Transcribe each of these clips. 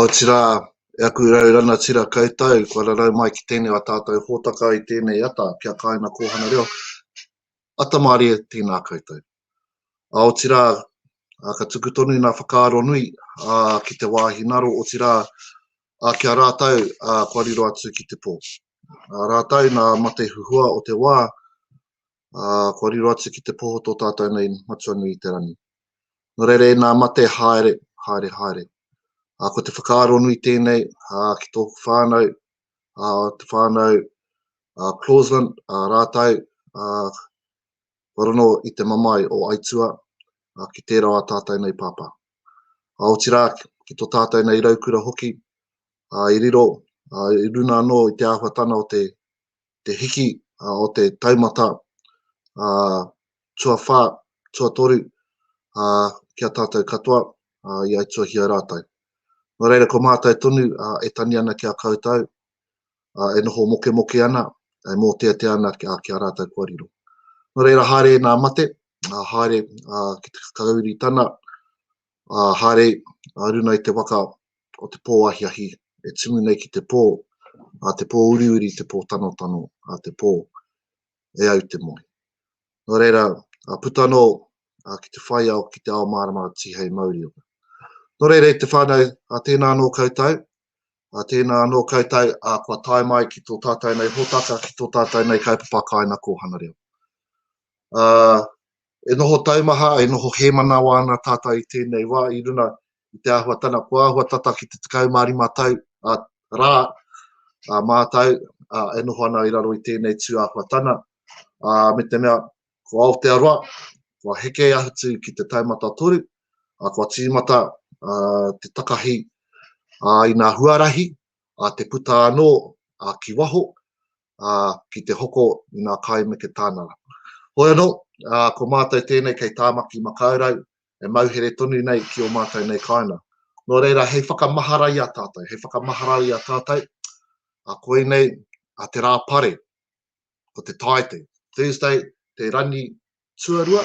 Otirā, e aku rau ranatira koutou, kua rarau mai ki tēnei o ā tātou hōtaka i tēnei ata ki a Kāina Kōhanga Reo, ata mārie, tēnā koutou. Otirā, ka tuku tonu ngā whakaaro nui ki te wāhi ngaro, otirā, ki a rātou kua riro atu ki te pō. Rātou nā mate huhua o te wā, ā, kua riro atu ki te poho tō tātou nei matua nui i te rangi. Nō reira, ina mate haere, haere, haere. Ā, ko te whakaaro nui tēnei, ā, ki tōku whānau, ā, te whānau, ā, Clausland, ā, rātou, ā, kua rono i te mamae o Aitua, ā, ki tērā o ā tātou nei pāpā. Ā, otirā, ki tō tātou nei raukura hoki, ā, i riro, ā, i runga anō i te āhuatana o te te hiki o te taumata tuawhā, tuatoru ki a tātou katoa i aituahia rātou. Nō reira, ko mātou tonu e tani ana ki a koutou, e noho mokemoke ana, e mōteatea ana ki a rātou kua riro. Nō reira, haere nā mate, haere ki te kakauri tana, Ā haere, ā runa i te waka o te pō ahiahi e tumu nei ki te pō, ā te pō uriuri, te pō tanotano, ā te pō, e au te moe. Nō reira, ā puta anō, ā ki te whai ao, ki te ao māramara tihei mauri ora. Nō reira i te whānau, ā tēnā anō koutou, ā tēnā anō koutou, ā kua tae mai ki tō tātou nei hōtaka, ki tō tātou nei kaupapa kāinakōhana reo. Ā, E noho taumaha, e noho hēmanawa ana tātou i tēnei wā i runa i te āhuatana kua āhua tata ki te 15 tau, ā, rā, ā, mātou, ā, e noho ana i raro i tēnei tū āhuatana, ā, me te mea, ko Aotearoa, kua heke atu ki te taumata toru, ā, kua tīmata, ā, te takahi, ā, i ngā huarahi, ā, te puta anō, ā, ki waho, ā, ki te hoko i ngā kai me te tānara. Hoi anō, ā, ko mātou tēnei kei Tāmaki Makaurau, e mauhere tonu nei ki ō mātou nei kāinga. Nō reira, hei whakamahara i a tātou, hei whakamahara i a tātou, ā, koinei, ā, te rā pare, ko te Tāite, Thursday, te rangi tuarua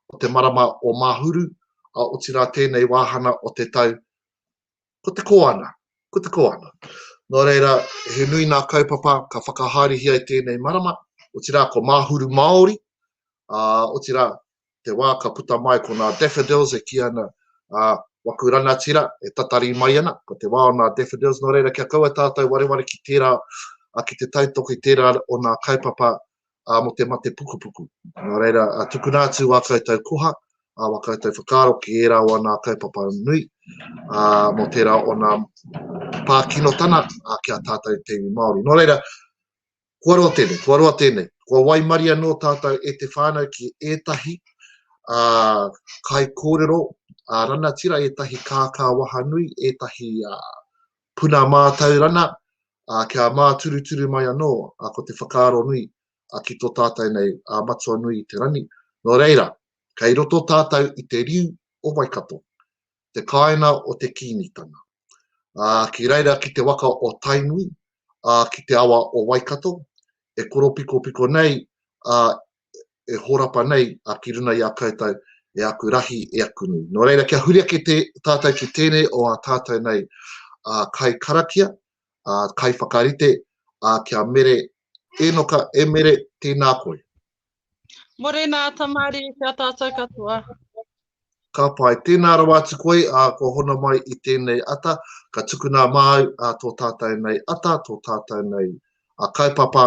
o te marama o Māhuru, ā, otirā tēnei wāhanga o te tau, ko te koanga, ko te koanga. Nō reira, he nui nā kaupapa ka whakahaerehia i tēnei marama, otirā ko Māhuru Māori, ā, otirā te wā ka puta mai ko nā Daffodils e kī ana, ā, waku rangatira e tatari mai ana, ko te wā o nā Daffodils, nō reira kia kaua tātou wareware ki tērā, ā, ki te tautoko i tērā o nā kaupapa ā, mō te mate pukupuku. Nā reira, tukuna atu wā koutou koha, ā, wā koutou whakaaro ki ērā o anā kaupapa nui, ā, mō tērā o nā pā kinotana, ā, ki a tātou te iwi Māori. Nō reira, kua roa tēnei, kua roa tēnei. Kua waimari anō tātou e te whānau ki ētahi ā, kai kōrero, ā, ranatira ētahi kākā wahanui, ētahi ā, puna mātaurana, ā, kia māturuturu mai anō, ā, ko te whakaaro nui, ā, ki tō tātou nei, ā, matua nui i te rangi. Nō reira, kei roto tātou i te riu o Waikato, te kāinga o te Kīngitanga. Ā, ki reira ki te waka o Tainui, ā, ki te awa o Waikato, e koropikopiko nei, ā, e horapa nei a ki runa i a koutou e aku rahi, e aku nui. Nō reira, kia huri ake te, tātou ki tēnei o a tātou nei a kai karakia, a kai whakarite, a kia mere enoka e mere tēnā koe. Morena, Tamari, kia tātou katoa. Ka pai, tēnā rawa atu koe, a kua hona mai i tēnei ata, ka tukuna māu a tō tātou nei ata, tō tātou nei a kaupapa,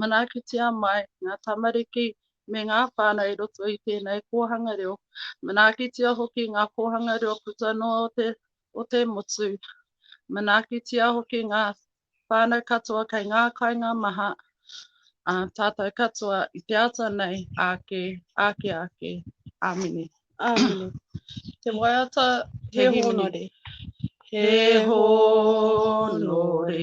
Manaakitia mai ngā tamariki me ngā whānau i roto i tēnei kōhanga reo. Manaakitia hoki ngā kōhanga reo puta noa o te motu. Manaakitia hoki ngā whānau katoa kei ngā kāinga maha a tātou katoa i te ata nei āke, āke, āke. Āmine. Āmine. Te waiata he hōnore. He hōnore.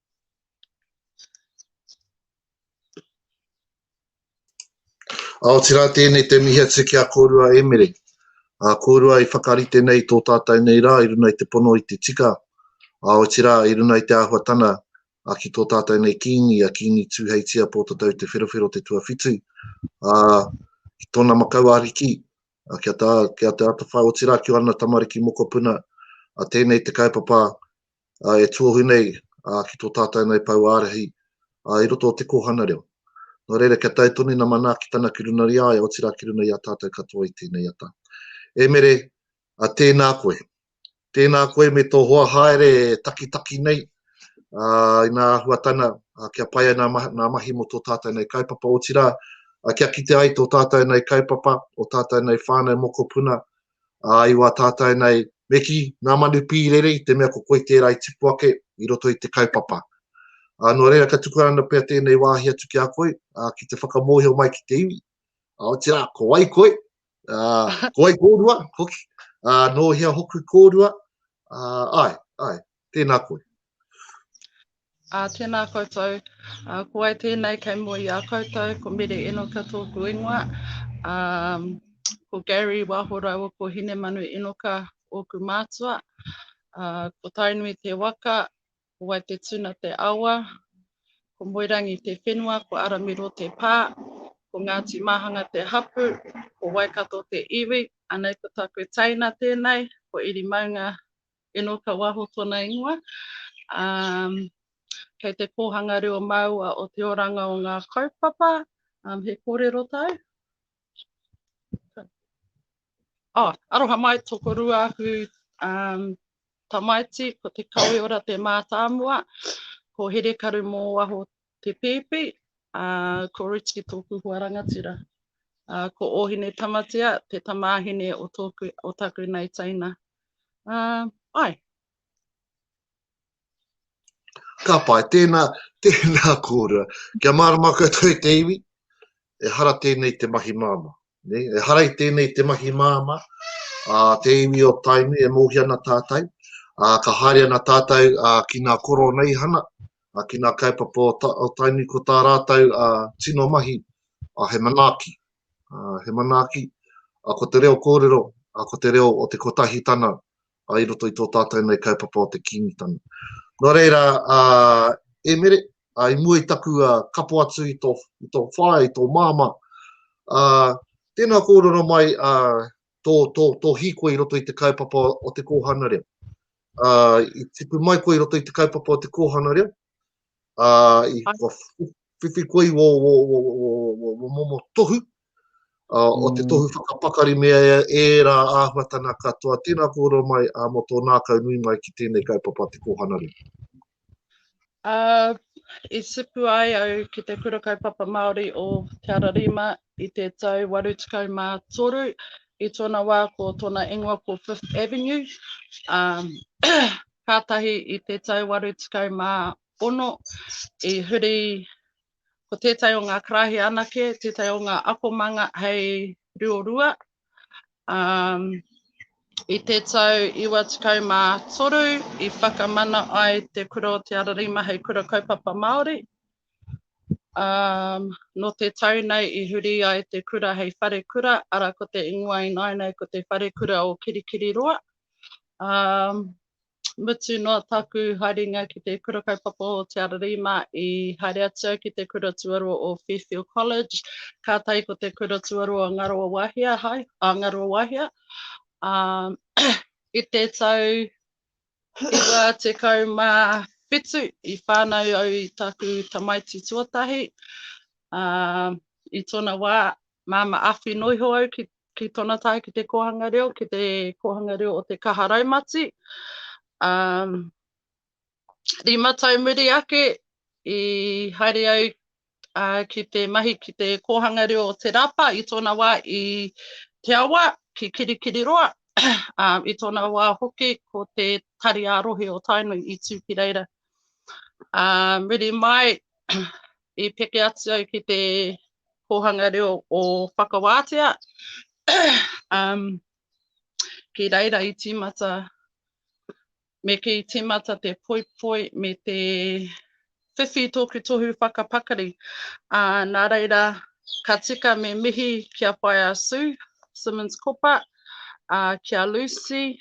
A otirā tēnei te mihi atu ki a kōrua Emere. A kōrua i whakarite nei tō tātou nei rā i runa i te pono i te tika, a otirā i runa i te āhuatana a ki tō tātou nei kīngi, a kīngi Tūheitia Pōtatau Te Wherowhero Te Tuawhitu, a ki tōna makau ariki, a kia, tā, kia te atawhai otirā ki ana tamariki mokopuna, a tēnei te kaupapa e tuohu nei ki tō tātou nei pou ārahi i roto o te kōhanga reo. Nō reira, kia tae tonu nā Manaakitanga ki runga i a ia, otirā ki runga i a tātou katoa i tēnei ata. E Mere, tēnā koe. Tēnā koe me tō hoa haere takitaki nei, i ngā āhuatanga kia pai ai ngā mahi mō tō tātou nei kaupapa, otirā kia kite ai tō tātou nei kaupapa, ō tātou nei whānau mokopuna, ā, i wā tātou nei, me kī, nā Manu Pīrere i te mea ko koe tērā i tipu ake i roto i te kaupapa. Ā, nō reira ka tukuna ana pea tēnei wāhi atu ki a koe, ā, ki te whakamōhio mai ki te iwi, ā, otirā, ko wai koe, ā, ko wai kōrua, hoki, ā, nō hea hoku kōrua, ā, āe, āe, Tēnā koe. Ā, tēnā koutou. Ā, ko wai tēnei kei mua i a koutou, ko Mere Enoka tōku ingoa. Ā, ko Gary Waho rāua ko Hinemanu Enoka ōku mātua. Ā, ko Tainui te waka, ko wai te tuna te awa, ko Moerangi te whenua, ko Aramiro te pā, ko Ngāti Māhanga te hapū, ko Waikato te iwi. Anei ko tāku teina tēnei, ko Iri Maunga, Eno ka waho tona ingoa. Um, kei te kōhanga reo māua o te oranga o ngā kaupapa, um, he kōrero tau. Oh, aroha mai toko rua aku um, tamaiti, ko te kawe ora te mātāmua, ko Here Karu mō waho te pēpi, uh, ko Richie tōku hoa rangatira. Uh, ko Ohine Tamatea, te tamāhine o, tōku, o taku nei teina. Ae. Ka pai, tēnā, tēnā kōrua. Kia mārama koutou i te iwi, ehara tēnei te mahi māmā. Nei, ehara i tēnei te mahi māmā, a te iwi o Tainui e mōhia ana tātou, a ka haere ana tātou a, ki ngā koroneihana, a ki ngā kaupapa o, ta, o Tainui ko tā rātou a, tino mahi a he manaaki, He manaaki, ko te reo kōrero, ko te reo o te kotahitanga i roto i tō tātou nei kaupapa o te Kīngitanga. Nō reira, e Mere, i mua i taku kapo atu i tō whaea, i tō māmā, tēnā kōrero mai tō hīkoi i roto i te kaupapa o te kōhanga reo. I tipu mai koe i roto i te kaupapa o te kōhanga reo, ā, i kua whiwhi koe i wō momo tohu, ā, o te tohu whakapakari me ērā āhuatanga katoa. Tēnā kōrero mai ā, mō tō ngākau nui mai ki tēnei kaupapa Te Kōhanga Reo. Ā, i tipu ai au ki te Kura Kaupapa Māori o Te Ara Rima i te tau 83, i tōna wā ko tōna ingoa ko Fifth Avenue, ā, kātahi i te tau 86 i huri ko tētahi o ngā karaehe anake, tētahi o ngā akomanga hei riorua. Um, i te tau 93 i whakamana ai te kura o Te Ararima hei kura kaupapa Māori. Um, no te tau nei i huri ai te kura hei whare kura, ara ko te ingoa i nāinei ko te whare kura o Kirikiriroa. Um, mutu noa taku haerenga ki te kura kaupapa o Te Ararima i haere atu ki te kura tuarua o Fairfield College. Ka tai ko te kura tuarua o Ngaroa Wahia, hai, a Ngaroa Wahia. Um, i te tau iwa te kau mā whitu i whānau au i taku tamaiti tuatahi. Um, I tōna wā, māma awhi noiho au ki ki tona tae ki te kohanga reo, ki te kohanga reo o te kaha raumati. Um, rima tau muri ake, i haere au uh, ki te mahi ki te kōhanga reo o Te Rapa i tōna wā i Te Awa ki Kirikiriroa. uh, I tōna wā hoki ko te tari a rohe o Tainui i tū ki reira. Uh, muri mai, I peke atu au ki te kōhanga reo o Whakawātea, umm, ki reira i tīmata, me kī i tīmata te poipoi me te whiwhi i tōku tohu whakapakari, ā, nā reira, ka tika me mihi ki a Whaea Sue Simmons-Kopa, ā, ki a Lucy,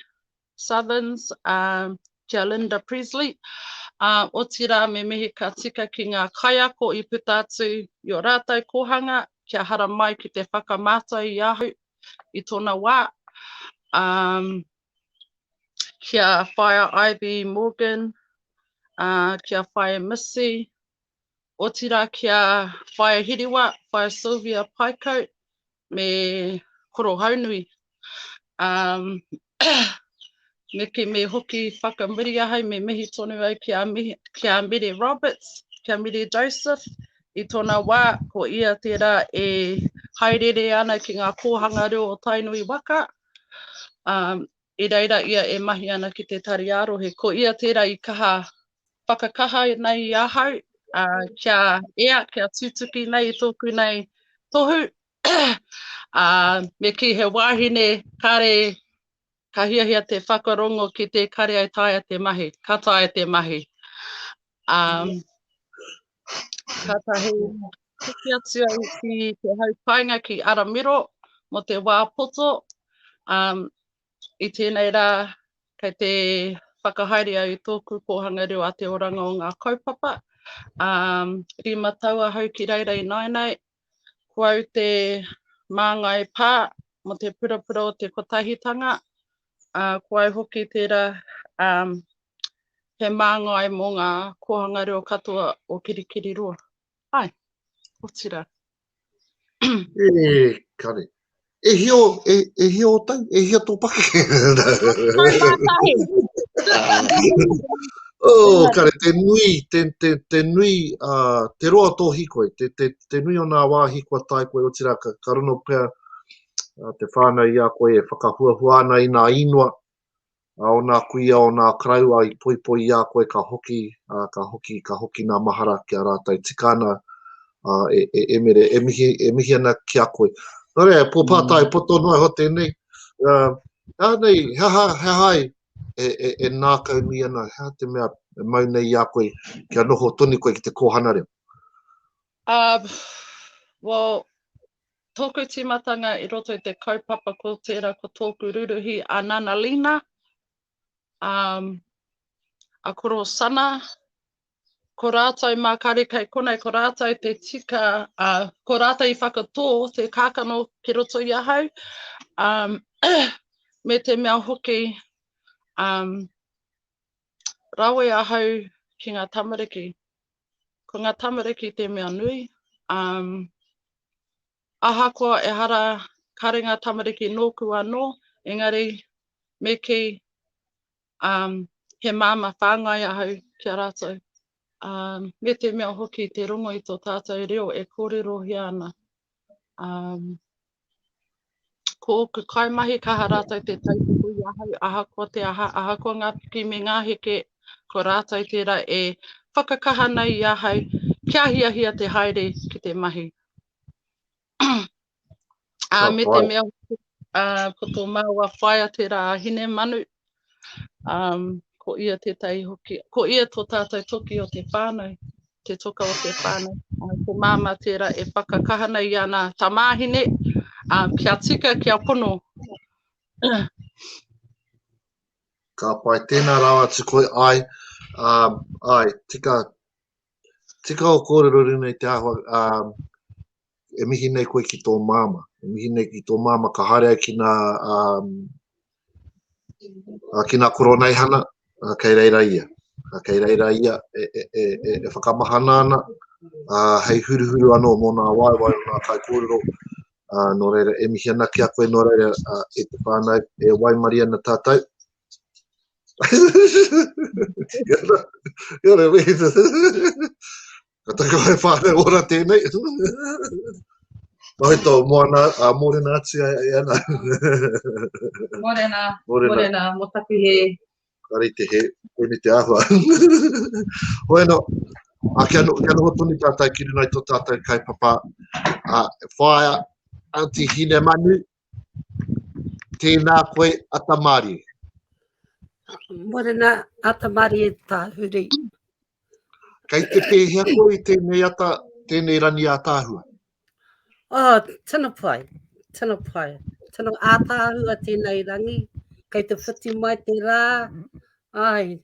Southerns, a Jalinda Pressley, ā, otirā me mihi ka tika ki ngā kaiako i puta atu i ō rātou kōhanga kia haramai ki te whakamātau i ahau i tōna wā, ā, ki a Whaea Ivy Morgan, ā, ki a Whaea Missy, otirā ki a Whaea Hiriwa, Whaea Sylvia Paikau, me Korohaunui, ā, me kī, me hoki whakamuri ahau, me mihi tonu au ki a Mihi, ki a Mere Roberts, ki a Mere Joseph, i tōna wā, ko ia tērā e haereere ana ki ngā kōhanga reo o Tainui waka, ā, i reira ia e mahi ana ki te tari ā-rohe. Ko ia tērā i kaha whakakaha nei i ahau kia ea, kia tutuki nei i tōku nei tohu, ā, me kī he wāhine kare ka hiahia te whakarongo ki te kare e taea te mahi, ka taea te mahi. Ā, Kātahi hoki atu au ki te hau painga ki Aramiro mo te wā poto. Um, I tēnei rā, kei te whakahaere au i tōku kōhanga reo a te oranga o ngā kaupapa. Um, rima tau ahau ki reira i nāinai, Ko au te māngai pā mō te purapura o te kotahitanga, ā, ko au hoki tērā he māngai mō ngā kōhanga reo katoa o Kirikiriroa. Āe, otirā. E kare. E hio, e, e hio o tau, e hio tō pake. oh, kare, te nui, te, te, te nui, uh, te roa tō hikoi, te, te, te nui o nā wāhi kua tai koe, otira ka, ka runo pia uh, te whānau i a koe e whakahuahua ana i nā inua, Ā, ō nā kuia, ō nā karaua i poipoi i a koe ka hoki, ā, ka hoki, ka hoki nā mahara ki a rātou tika ana, ā, e, e, e Mere, e mihi, e mihi ana ki a koe. Nō reira, e Pō Pātai, poto noa iho tēnei, ā, he aha nei, he aha, he aha ai e, e, e nākaunui ana, he aha te mea e mau nei i a koe kia noho tonu koe ki te kōhanga reo? Ā, well, Tōku tīmatanga i roto i te kaupapa ko tērā ko tōku ruruhi a Nana Lina, a a Koro Sana, ko rātou mā kare kei konei ko rātou te tika, a ko rātou i whakatō te kākano ki roto i ahau, a me te mea hoki a rawe ahau ki ngā tamariki. Ko ngā tamariki te mea nui. Um, ahakoa ehara kare ngā tamariki nōku anō, engari me ki um, he māma whāngai ahau ki a rātou. Um, me te mea hoki te rongo i tō tātou reo e kōrerohia ana. Um, Ko ōku kaimahi kaha rātou te tautoko i ahau ahakoa te aha, ahakoa ngā piki me ngā heke, ko rātou tērā e whakakaha nei i ahau kia hiahia te haere ki te mahi. Ā, me te mea hoki, ā, ko tō māua whaea tērā a Hinemanu, Um, ko ia tētahi hoki, ko ia tō tātou toki o te whānau, te toka o te whānau. Uh, ko māma tērā e whakakaha nei i ana tamāhine, uh, kia tika, kia pono. Ka pai, tēnā rāwa tu koi ai, um, ai, tika, tika o kōrero rinei te āhua, um, e mihi nei koe ki tō māma, e mihi nei ki tō māma ka haere ai ki nā, um, uh, ki nā koroneihana, uh, kei reira ia. Uh, kei reira ia e, e, e, e, e whakamahana ana, uh, hei huruhuru anō mō nā waewae o nā kaikōrero, uh, nō reira e mihi ana ki a koe, nō reira uh, e te whānau, e waimari ana tātou. Ia rā, ia rā, Ka taku hai whānau ora tēnei. Nohi tō moana, a mōrena atu ai ai ana. mōrena, mōrena, mōrena, mō taku he. Kari te he, koini te ahua. Hoi no, a kia no, kia noho tonu tātai ki runai tō tātai kai papa, a whaia, anti hine manu, tēnā koe a tamari. Mōrena, a tamari e tāhuri. Kei te pēhea koe i tēnei ata, tēnei rangi ātaahua? Oh, tino pai, tino pai. Tino ātaahua tēnei rangi. Kei te whiti mai te rā. Ai,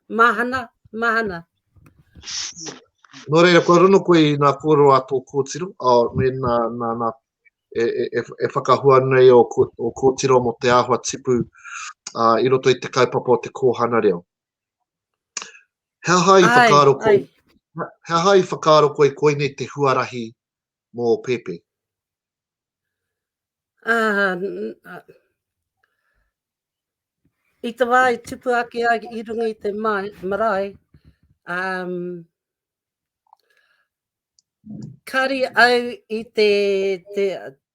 mahana, mahana. Nō reira, kua rono koe i nā kōrero a tō kōtiro, a, me nā, nā, nā, e, e, e, e whakahua nei o, o kōtiro mo te āhua tipu a, i roto i te kaupapa o te kōhana reo. He aha i whakaaro koe? He aha i whakaaro koe koinei te huarahi mō Pepe? Uh, i te wā i tupu ake ai i runga i te mai, marae, um, kari au i te, te,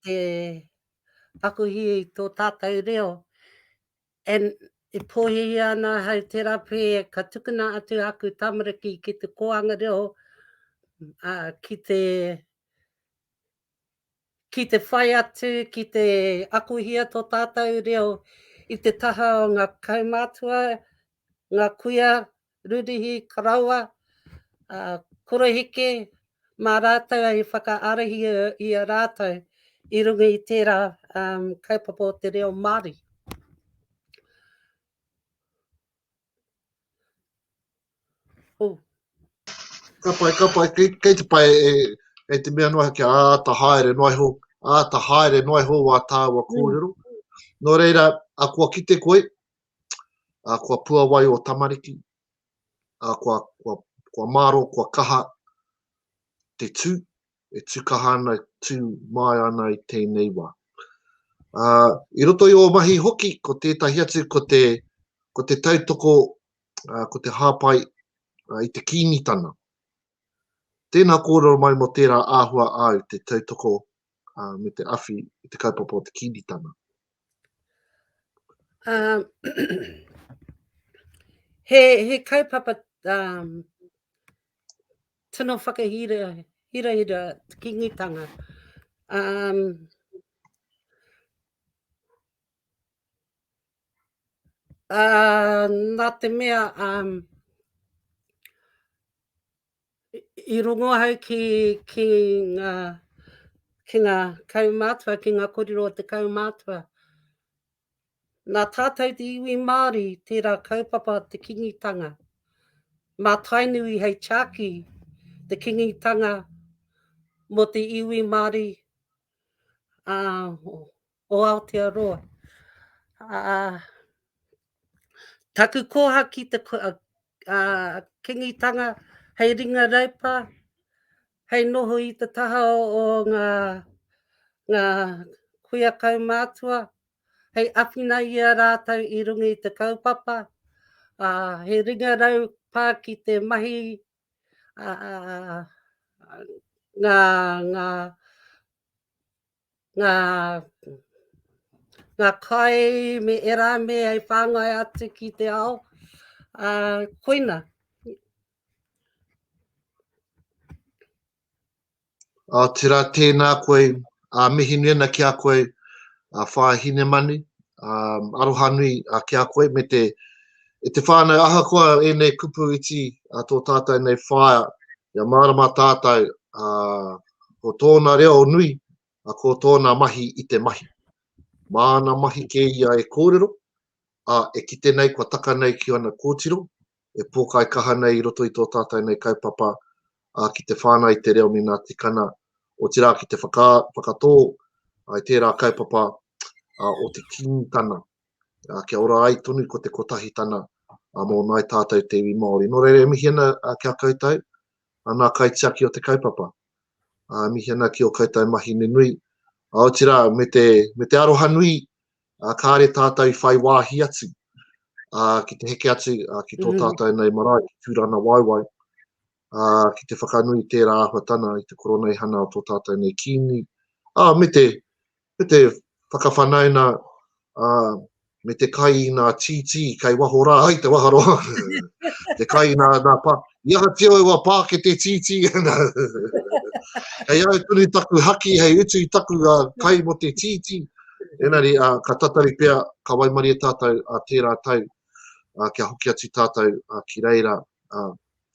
te akuhi i tō tātou reo, And e pōhēhia ana ahau tērā pē ka tukuna atu āku tamariki ki te kōhanga reo, ā, ki te, ki te whai atu, ki te akohia tō tātou reo i te taha o ngā kaumātua, ngā kuia, Rurihi, Karawa, ā, Koroheke, mā rātou i whakaarahia i a rātou i runga i tērā kaupapa o te reo Māori. Oh. Ka pai, ka pai, kei, kei te pai e, e te mea noa kia āta haere noa iho, āta haere noa iho wā tāua kōrero. Mm. Nō reira, a kua kite koe, a kua puawai o tamariki, a kua, kua, kua māro, kua kaha te tū, e tū kaha ana, tū māi ana i tēnei wā. A, I roto i o mahi hoki, ko tētahi atu, ko te, ko te tautoko, a, ko te hāpai a, i te kīngitana. Tēnā kōrero mai mō tērā āhua āu te tautoko me te awhi i te kaupapa o te Kiritana. Um, he, he kaupapa um, tino whakahira hira hira te kingitanga. Um, Uh, nā te mea, um, i rongo ahau ki, ki ngā, ki ngā kaumātua, ki ngā korero o te kaumātua. Nā tātou te iwi Māori, tērā kaupapa te kingitanga. Mā Tainui hei chāki te kingitanga mō te iwi Māori, uh, o Aotearoa. Uh, taku koha ki te uh, uh, kingitanga hei ringa raipa, hei noho i te taha o, o ngā, ngā kuia kaumātua, hei awhina i a rātou i runga i te kaupapa, uh, he ringa rau pā ki te mahi uh, ngā, ngā ngā, ngā kai me ērā mea e whāngai atu ki te ao. Ā, koina. Ā, tērā tēnā koe, ā, mihi nui ana ki a koe, ā, Whaea Hinemani, ā, aroha nui ā, ki a koe me te, e te whānau ahakoa ēnei kupu iti ā tō tātou nei whaea, kia mārama tātou ā, Ko tōna reo nui, a ko tōna mahi i te mahi. Māna mahi kē ia e kōrero, a e kite nei kua taka nei ki ana kōtiro, e pōkai kaha nei i roto i tō tātai nei kaupapa, a ki te whāngai i te reo me nā tikana, otirā ki te whaka, whakatō ai tērā kaupapa a, o te King tana. A, kia ora ai tonu ko te kotahi tana, a mō nai tātou te iwi Māori. Nō reira e mihi ana a, kia koutou, Ana kaitiaki o te kaupapa. Ā, mihi ana ki ō koutou mahi nunui, aotirā, me te, me te aroha nui, ā, kāre tātou i whai wāhi atu, ā, ki te heke atu, ā, ki tō tātou nei marae, ki Tūranawauwau, ā, ki te whakanui i tērā āhuatana, i te koroneihana o tō tātou nei Kīngi, ā, me te, Me te whakawhanauna a me te kai i nga tītī kai waho rā ai te waharoa, te kai i nga pā, i aha tio e wa pā ke te tītī ana. Hei au tonu taku haki hei utu i taku kai mo te tītī, enari ka tatari pea, ka waimarie tātou tērā tau kia hoki atu tātou ki reira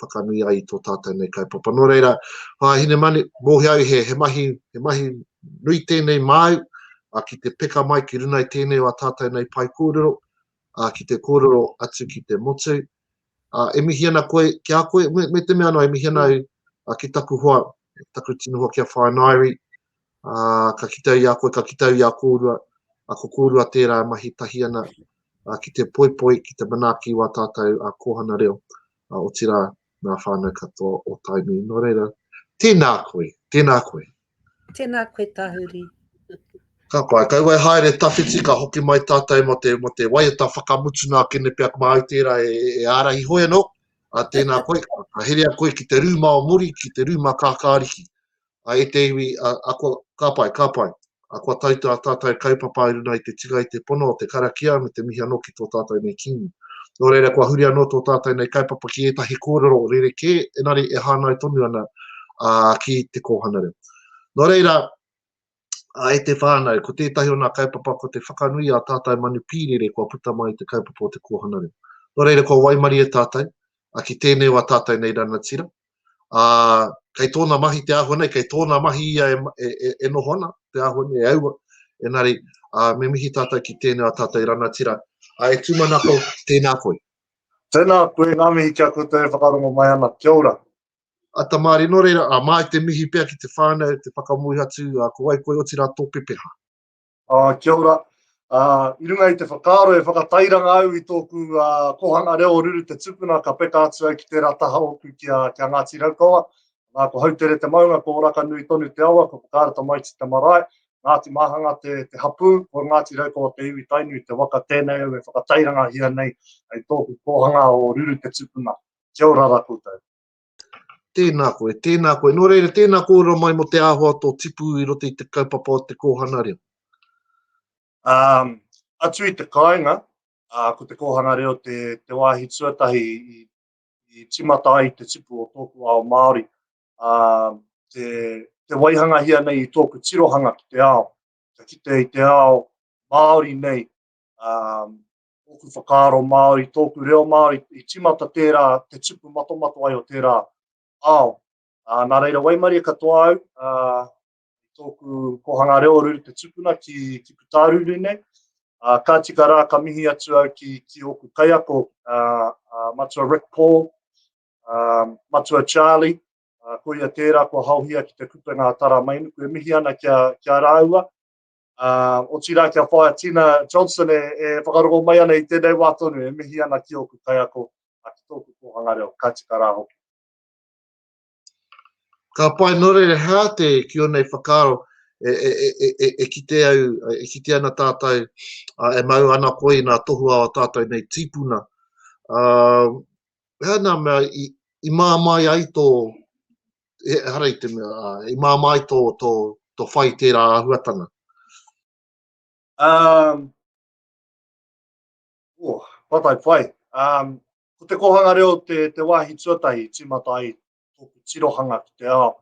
whakanui ai i tō tātou nei kaupapa. Nō reira, Hinemanu, mōhio au he mahi nui tēnei māu ki te peka mai ki runga i tēnei o a tātou nei pae kōrero, ki te kōrero atu ki te motu. E mihi ana koe ki a koe, me te mea noa, e mihi ana au ki taku hoa, taku tino hoa ki a Wharenairi, ā, ka kitea i a koe, ka kitea i a kōrua, ā, ko kōrua tērā e mahi tahi ana, ā, ki te poipoi, ki te manaaki i wā tātou ā, kōhanga reo, ā, otirā, ngā whānau katoa o Tainui. Nō reira, tēnā koe, tēnā koe. Tēnā koe Tahuri. Ka pai, kaua e haere tawhiti, ka hoki mai tātou mō te, mō te waiata whakamutu nā Kenepeak māu tērā e, e ārahi hoi anō, ā, tēnā koe, ka herea koe ki te rūma o Muri, ki te rūma Kākāriki. a e te iwi, a, a kua, ka pai, ka pai, a kua tai tā tātou kaupapa i runga i te tika i te pono o te karakia me te mihi anō ki tō tātou nei Kīngi. Nō reira kua huri anō tō tātou nei kaupapa ki ētahi kōrero rerekē, engari e hāngai tonu ana ā, ki te kōhanareo. Nō reira, a e te whānau, ko tētahi o nā kaupapa ko te whakanui i ā tātou manu pīrere kua puta mai i te kaupapa o te kōhanareo. Nō reira kua waimarie tātou, a ki tēnei o ā tātou nei rangatira, ā, kei tōna mahi te āhua nei, kei tōna mahi ia e, e, e, e noho ana, te āhua nei e aua. Engari, ā, me mihi tātou ki tēnei a tātou i rangatira. Ā, e tūmanako, tēnā koe. Tēnā koe, ngā mihi ki a koutou e whakarongo mai ana. Kia ora. A Tamari, nō reira, ā, māi te mihi pea ki te whānau, te whakamoe atu, ā, ko wai koe, otirā tō pepeha. Oh, kia ora. Uh, I runga i te whakaaro e whakatairanga au i tōku uh, kohanga reo o Ruru te Tupuna, ka peka atu au ki te rataha o ku ki a, ki a Ngāti Raukawa. Nā, ko Hautere te maunga, ko Oraka nui tonu te awa, ko Whakaara Tamaiti te marae, Ngāti Māhanga te, te hapū, ko Ngāti Raukawa te iwi tainui, te waka tēnei au e whakatairanga hia nei ai tōku kohanga o Ruru te Tupuna. Kia ora ra koutou. Tēnā koe, tēnā koe. Nō reira, tēnā kōrero mai mō te āhua tō tipu i roto i te kaupapa o te kōhanga reo. Um, atu i te kāinga, uh, ko te kōhanga reo te, te wāhi tuatahi i, i timata ai te tipu o tōku ao Māori. Uh, te, te waihangahia nei i tōku tirohanga ki te ao. Ka kite i te ao Māori nei, um, Ōku whakaaro Māori, tōku reo Māori, i tīmata tērā te tupu matomato ai o tērā ao. Ā, nā reira, waimarie katoa au, ā, i tōku kōhanga reo o Ruru Te Tupuna ki, ki Putāruru nei, ā, ka tika rā, ka mihi atu au ki, ki ōku kaiako, ā, ā, Matua Rick Paul, ā, Matua Charlie, ā, koia tērā kua haohia ki te kupenga a Taramainuku, e mihi ana ki a, ki a rāua, Uh, otirā kia whaia Tina Johnson e, e whakarongo mai ana i tēnei wā tonu, e mihi ana ki ōku kaiako, a ki tōku kōhanga reo, ka tika rā hoki. Ka pai nore re hā te ki o nei whakaro, e, e, e, e, e, e kite au, e kite ana tātou, uh, e mau ana koi nā tohu a tātou nei tīpuna. Uh, hea nā mea, i, i māmai ai tō, ehara i te mea, uh, i māmā ai tō, tō, tō whai tērā āhuatanga? Um, oh, patai whai. Um, ko te kohanga reo te, te wāhi tuatahi i tīmata ai tōku tirohanga ki te ao.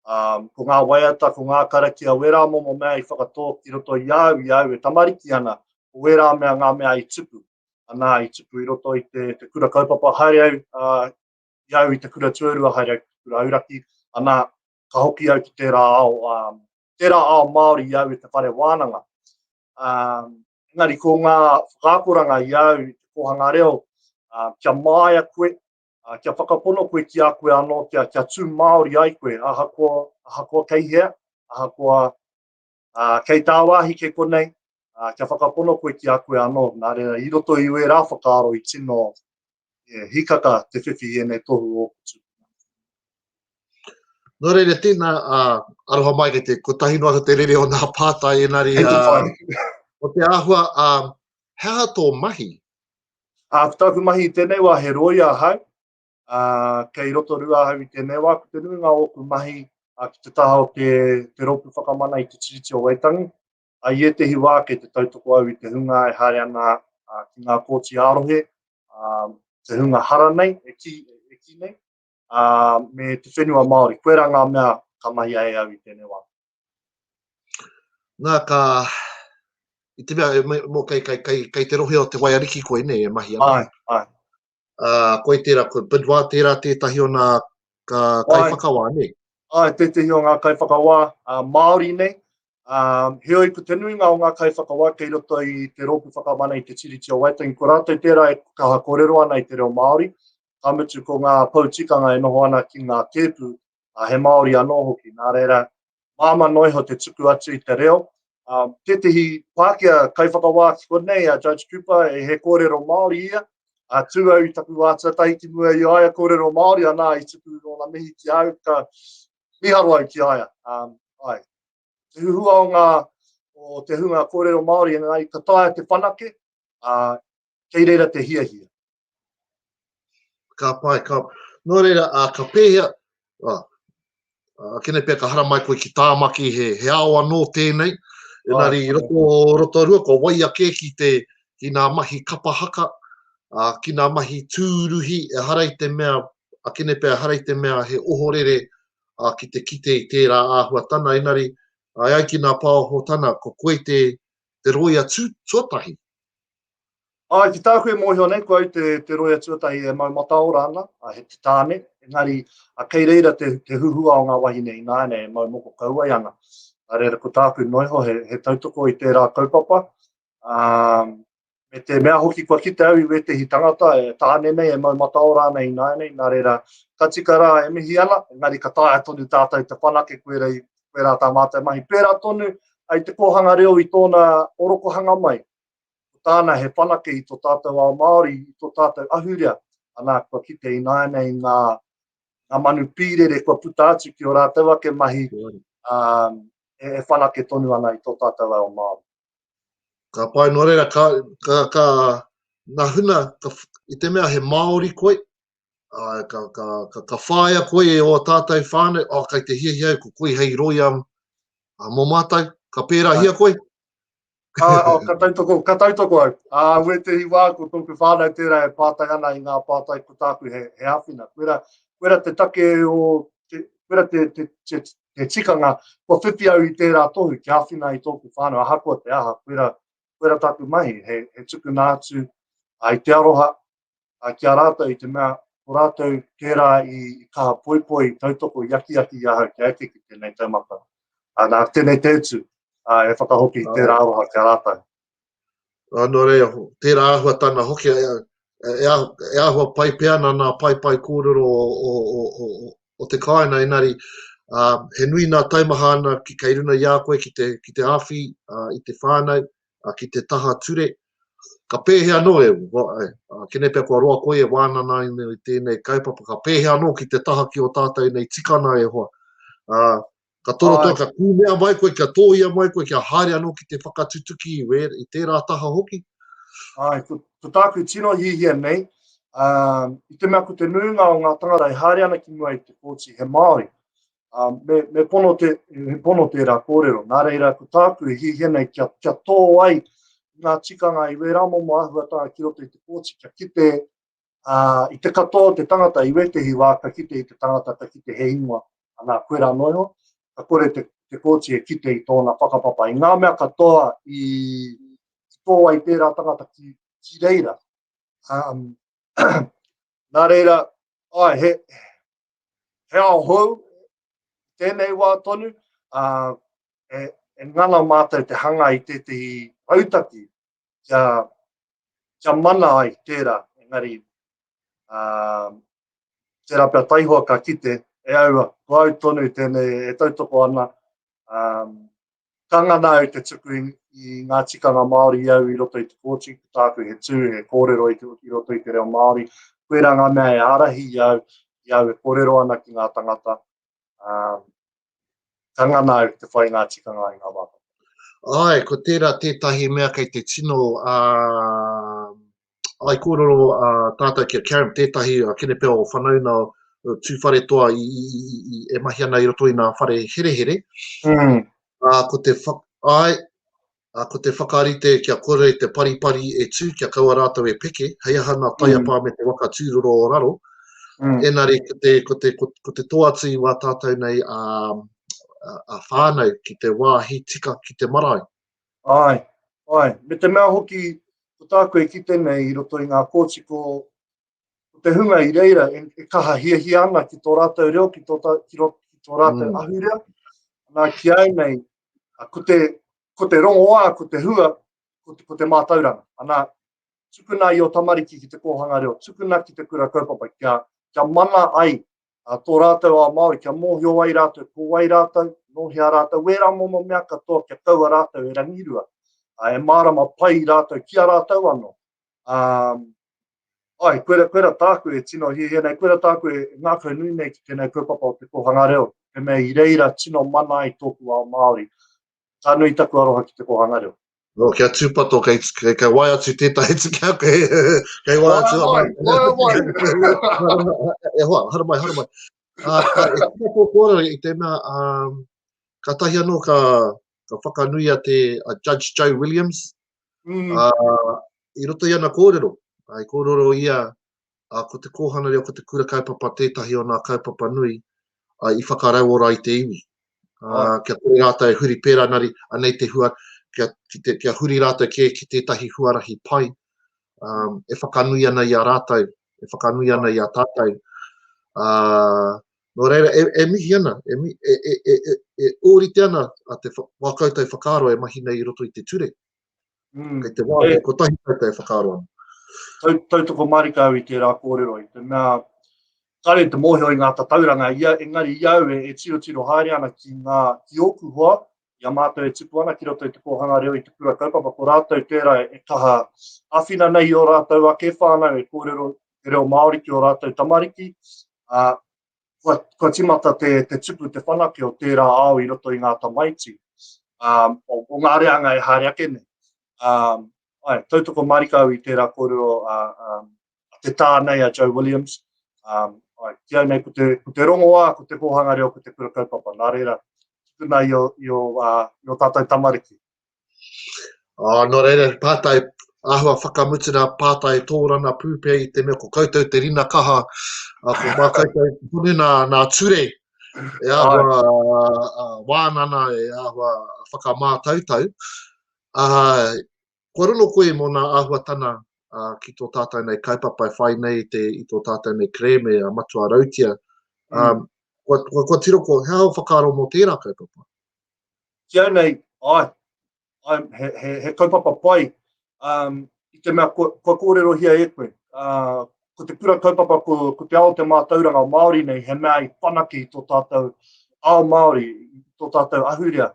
Um, ko ngā waiata, ko ngā karaki a wērā momo mea i whakatō ki roto i au, i au e tamariki ana, ko wērā mea ngā mea i tupu. Anā, i tupu i roto i te, te kura kaupapa haere au uh, ki au i te kura tuarua haere au ki te kura auraki, ana, ka hoki au ki tērā ao, um, tērā ao Māori i au i te whare wānanga. Um, engari, ko ngā whakaakoranga i au i te kōhanga reo, uh, kia māia koe, uh, kia whakapono koe ki a koe anō, kia, kia tū Māori ai koe, ahakoa, ahakoa kei hea, ahakoa Uh, kei tāwāhi ke konei, uh, kia whakapono koe ki a koe anō, nā reira i roto i wērā whakaaro i tino e, hikaka te whiwhi i ēnei tohu o kutu. Nō reira, tēnā, uh, aroha mai ki te kotahi noa te rere o nā pātai, enari, uh, o te āhua, uh, hea tō mahi? Uh, ko tāku mahi i tēnei wā, he roia hau, Uh, kei Rotorua ahau i tēnei wā, ko te nuinga o ōku mahi uh, ki te taha o te, te rōpū whakamana i te tiriti o Waitangi. Uh, I ētehi wā kei te tautoko au i te hunga e haere ana uh, ki ngā kōti ārohe, uh, te hunga hara nei, e ki, e ki nei, uh, me te whenua Māori. Koe rā ngā mea ka mahi ai au i tēnei wā. Nā, ka... I te mea, mō kei, kei, kei, kei te rohe o te waiariki koe nei e mahi ana. Ai, ai. uh, koi tērā, ko Bidwa tērā tētahi o nā ka kai whakawā, ne? Ai, tētahi o ngā kai whakawā uh, Māori nei. Um, heoi, ko te nuinga o ngā kai whakawā kei roto i te rōpu whakamana i te tiriti o Waitangi, ko rātou tērā e kaha kōrero ana i te reo Māori, ka mutu ko ngā poutikanga e noho ana ki ngā tēpu ā, he Māori anō hoki, nā reira, māmā noa iho te tuku atu i te reo. Ā, tētehi Pākehā kaiwhakawā ki konei, a Judge Cooper, e he kōrero Māori ia, ā, tū au i taku wā tuatahi ki mua i a ia kōrero Māori, anā, i tuku ōna mihi ki a au, ka mīharo au ki a ia. Ā, āe. Te huhua o ngā, o te hunga kōrero Māori, engari ka taea te whanake, ā, Kei reira te hiahia. Ka pai, ka... Nō reira, uh, ka pēhea... Uh, uh, kene pēr, ka haramai koe ki Tāmaki, he, he ao anō tēnei. Enari, oh, roto, roto rua, ko wai ake ki te ki nā mahi kapa haka, uh, ki nā mahi tūruhi, e harai te mea, a kene pēr, harai te mea he ohorere uh, ki te kite i tērā āhuatana. Enari, ai ai ki nā pāohotana, ko koe te, te roia tū, tuatahi. Āe, ki tāku e mōhio nei, kua au te roea tuatahi e mau mataora ana, he te tāne, engari kei reira te huhua o ngā wahine ināianei e mau moko kau ai ana. Nā reira, ko tāku noa iho he tautoko i tērā kaupapa, me te mea hoki kua kite au i wētehi tangata, he tāne nei e mau mataora ana ināianei, nā reira, ka tika rā e mihi ana, engari ka taea tonu tātou te whanake koirā tā mātou mahi. Pērā tonu, i te kōhanga reo i tōna orokohanga mai, Ko tāna he whanake i tō tātou ao Māori, i tō tātou ahurea, anā, kua kite ināianei ngā manu pīrere kua puta atu ki ō rātou ake mahi e whanake tonu ana i tō tātou ao Māori. Ka pai nō reira, ka, ka, ka, nā huna, ka, i te mea he Māori koe, uh, ka, ka, ka, ka whāia koe e o tātou whāne, oh, kai te hiahia ko koe hei roia uh, mō mātou, ka pērā hia koe, Ka, oh, ka, tautoko, ka tautoko au. Uh, ue te hiwa, ko tōku whānau tērā e pātai ana i ngā pātai ko tāku he, he hawhina. Kuera, kuera te take o, te, kuera te, te, te, te tikanga, kua whiwhi au i tērā tohu ki hawhina i tōku whānau, ahakoa te aha, kuera, kuera tāku mahi, he, he tukuna atu, ai te aroha, a, ki a rātou i te mea, ko rātou tērā i, i kaha poipoi, i tautoko, i akiaki i ahau kia eke ki tēnei taumata. A, nā, tēnei te utu, a, e whakahoki i tērā aroha ki a rātou. Anō rei, tērā ahua tana hoki, e, e, e, e ahua pai pea nā nā pai pai kōrero o, o, o, o, o, o te kāina, enari, uh, he nui nā taimaha ana ki kei runa i a koe ki te, ki te awhi uh, i te whānau, a ki te taha ture, ka pēhea anō e, a kene pea kua roa koe e wānana ai nei i tēnei kaupapa, ka pēhea anō ki te taha ki o tātou nei tikana e hoa, a, ka toro tau, ka kūmea mai koe, kia tōia mai koe, kia haere anō ki te whakatutuki i wē, i tērā taha hoki. Ai, ko, ko tāku tino hihia nei, a, i te mea ko te nuinga o ngā tangata e haere ana ki mua i te kōti he Māori, Ā, me, me pono te, he pono tērā kōrero. Nā reira, ko tāku e hiahia nei kia, kia tō ai ngā tikanga i wērā momo āhuatanga ki roto i te kōti, kia kite ā, i te katoa o te tangata, i wētehi wā ka kite i te tangata, ka kite he ingoa, anā, koe rā noa iho, ka kore te, te kōti e kite i tōna whakapapa, i ngā mea katoa i, i tō ai tērā tangata ki, ki reira. Um, nā reira, ai, he, he ao hou, tēnei wā tonu, ā, e, e ngana mātou te hanga i tētahi rautaki kia, kia mana ai tērā, engari, ā, tērā pia taihoa ka kite, e aua, ko au tonu tēnei e tautoko ana, ā, Ka ngana au te tuku i ngā tikanga Māori i au i roto i te kōti, ko tāku he tū, he kōrero i, i roto i te reo Māori. Koirā ngā mea e ārahi i au, i au e kōrero ana ki ngā tangata. Uh, ka ngana au te whai ngā tikanga i ngā wākata. Ai, ko tērā tētahi mea kei te tino uh, I kōrero a tātou ki a Karen, tētahi a Kenepea o Whanauna Tūwharetoa i, i, i, i, e mahi ana i roto i nā whare herehere. Mm. A, ko te whak, ai, a, ko te whakarite kia kore te paripari e tū kia kaua rātou e peke, hei aha nā taiapā mm. me te waka tūroro o raro. Mm. Enari, ko te, ko te, ko, ko te toatu i wā tātou nei a, a, a whānau ki te wāhi tika ki te marae. Āe, āe, me te mea hoki ko tāku e kite nei i roto i ngā kōti ko te hunga i reira e kaha hiahia ana ki tō rātou reo, ki tō rātou mm. ahurea. Nā ki ai nei, ko te, ko te rongoā, ko te hua, ko te, ko te mātauranga. Anā, tukuna i o tamariki ki te kōhanga reo, tukuna ki te kura kaupapa, kia, kia mana ai a tō rātou ao Māori, kia mōhio ai rātou ko wai rātou, nō hea rātou, wērā momo mea katoa kia kaua rātou e rangirua, ā, e mārama pai rātou ki a rātou anō. Ā, āe, koira, koira tāku e tino hiahia nei, koira tāku e ngākau nui nei ki tēnei kaupapa o te kōhanga reo, he mea i reira tino mana ai tōku ao Māori. Ka nui taku aroha ki te kōhanga reo. No, kia tūpato, kei, kei, kei wai atu tētahi te kia koe. kei wai atu. Wai, wai, wai. e hoa, hara mai, hara mai. Uh, ka, e tika tō kōrero i tēnā, um, ka tahi anō ka, ka whakanui a te a Judge Joe Williams. Mm. Uh, I roto i ana kōrero, ai kōrero ia ā, ko te kōhanga reo, ko te kura kaupapa tētahi o nā kaupapa nui i whakarauora ai te iwi. Ā, kia kore rātou e huri pērā, nari, anei te hua, kia, ki te, kia huri rātou kē ki tētahi huarahi pai, ā, e whakanui ana i a rātou, e whakanui ana i a tātou. Ā, nō reira, e, e mihi ana, e, mi, e, e, e, e, e ōrite ana a te whakautou whakaaro e mahi nei i roto i te ture. Mm. Kei te wā, e, kotahi tau te whakaaro ana. Tau, tautoko marika au i tērā kōrero, i te mea, kare te mōhio i ngā tatauranga, ia, engari i au e, e tiro tiro haere ana ki ngā, ki ōku hoa, i a mātou e tupu ana ki roto i te kōhanga reo i te kura kaupapa, ko rātou tērā e, e kaha awhina nei i o rātou ake whānau e kōrero te reo Māori ki o rātou tamariki, a, kua, kua timata te, te tupu, te whanake o tērā ao i roto i ngā tamaiti, um, o, o ngā reanga e haere ake nei. Um, ai, tautoko marika au i tērā kōrero a, a, a te tā nei a Joe Williams. Um, ai, ki au nei, ko te, ko te rongoā, ko te kōhanga reo, ko te kura kaupapa, nā reira, tukuna i o, i o, uh, i o tātou tamariki. Oh, nō reira, pātai, āhua whakamutunga pātai tōrana pūpē i te mea ko koutou te rina kaha, a ko mā koutou tonu nā, nā ture, e āhua uh, wānana, e āhua whakamātautau. Uh, kua rono koe mō nā āhuatana uh, ki tō tātou nei kaupapa e whai nei te, i tō tātou nei kreme a matua rautia. Um, mm. kua, kua, kua tiro ko, he ao whakaaro mō tērā kaupapa? ki au nei, ae, ae, he, he, he kaupapa pai, um, i te mea kua, kua kōrerohia e koe. Uh, ko te kura kaupapa, ko, ko te ao te mātauranga Māori nei, he mea i whanake i tō tātou ao Māori, i tō tātou ahurea.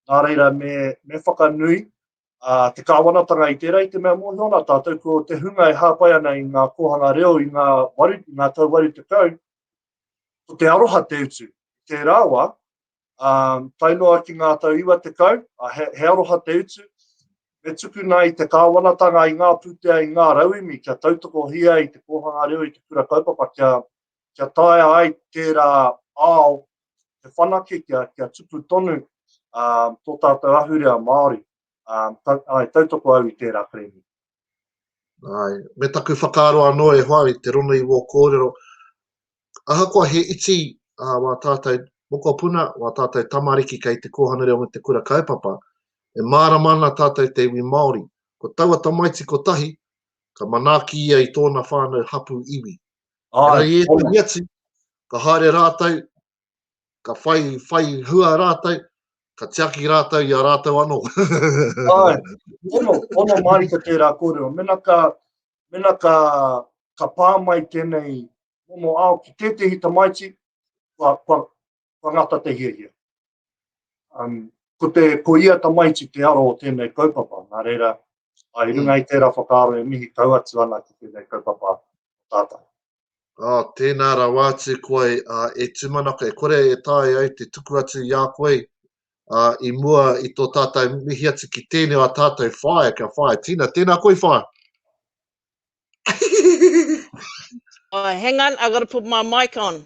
Nā reira, me, me whakanui uh, te kāwanatanga i tērā, i te mea mōhio ana tātou, ko te hunga e hāpai ana i ngā kōhanga reo, i ngā, waru, i ngā tau waru te kau, ko te aroha te utu. Tērā wā, tae noa ki ngā tau iwa tekau, he aroha te utu, me tukuna i te kāwanatanga, i ngā pūtea, i ngā rauemi kia tautokohia i te kōhanga reo, i te kura kaupapa kia taea ai tērā ao te whanake kia tupu tonu tō tātou ahurea Māori. Tautoko au i tērā kerēme. Ai, me taku whakaaro anō e hoa i te rongo i wō kōrero, ahakoa he iti a uh, wā tātou mokopuna, wā tātou tamariki kei te kōhanga reo me te kura kaupapa, e mārama ana tātou te iwi Māori. Ko taua tamaiti ko tahi, ka manaaki ia i tōna whānau hapu iwi. Ai, e atu, ka haere rātou, ka whai, whai hua rātou, ka tiaki rātou i a rātou anō. Ai, ono, ono māri ka tērā kōrero. Mena ka, mena ka, ka pā mai tēnei momo ao ki tētehi tamaiti, kua, kua, kua ngata te hiahia. Um, ko, te, ko ia tamaiti te aro o tēnei kaupapa, nā reira, ai runga i tērā whakaaro e mihi kau atu ana ki tēnei kaupapa tātai. Oh, tēnā rawa atu koe uh, e tūmanako, e kore e tae ai te tuku atu i a koe uh, i mua i tō tātou mihi atu ki tēnei a tātou whae, kia whae tina, tēnā koe whae. oh, hang on, I've got to put my mic on.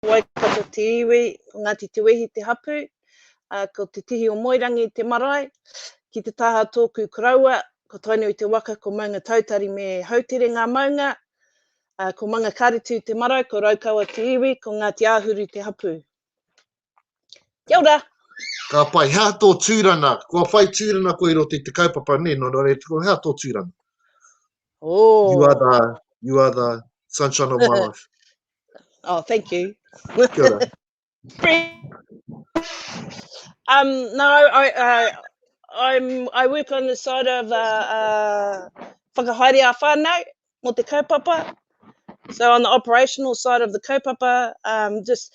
Ko Waikato te iwi, ko Ngāti Tuwehi te hapū, ā, ko Te Tihi o Moerangi te marae. Ki te taha o tōku koroua, ko Tainui te waka, ko Maungatautari me Hautere ngā maunga, ā, ko Mangakāretu te marae, ko Raukawa te iwi, ko Ngāti Āhuru te hapū. Kia ora. Ka pai, hea tō tūrana? Kua whai tūrana koe i roto i te kaupapa, nē, no reira tuku, hea tō tūrana? Oh. You are the, you are the sunshine of my life. oh, thank you. Kia ora. um, no, I, uh, I'm, I work on the side of uh, uh, whakahaere a whānau mo te kaupapa. So on the operational side of the kaupapa, um, just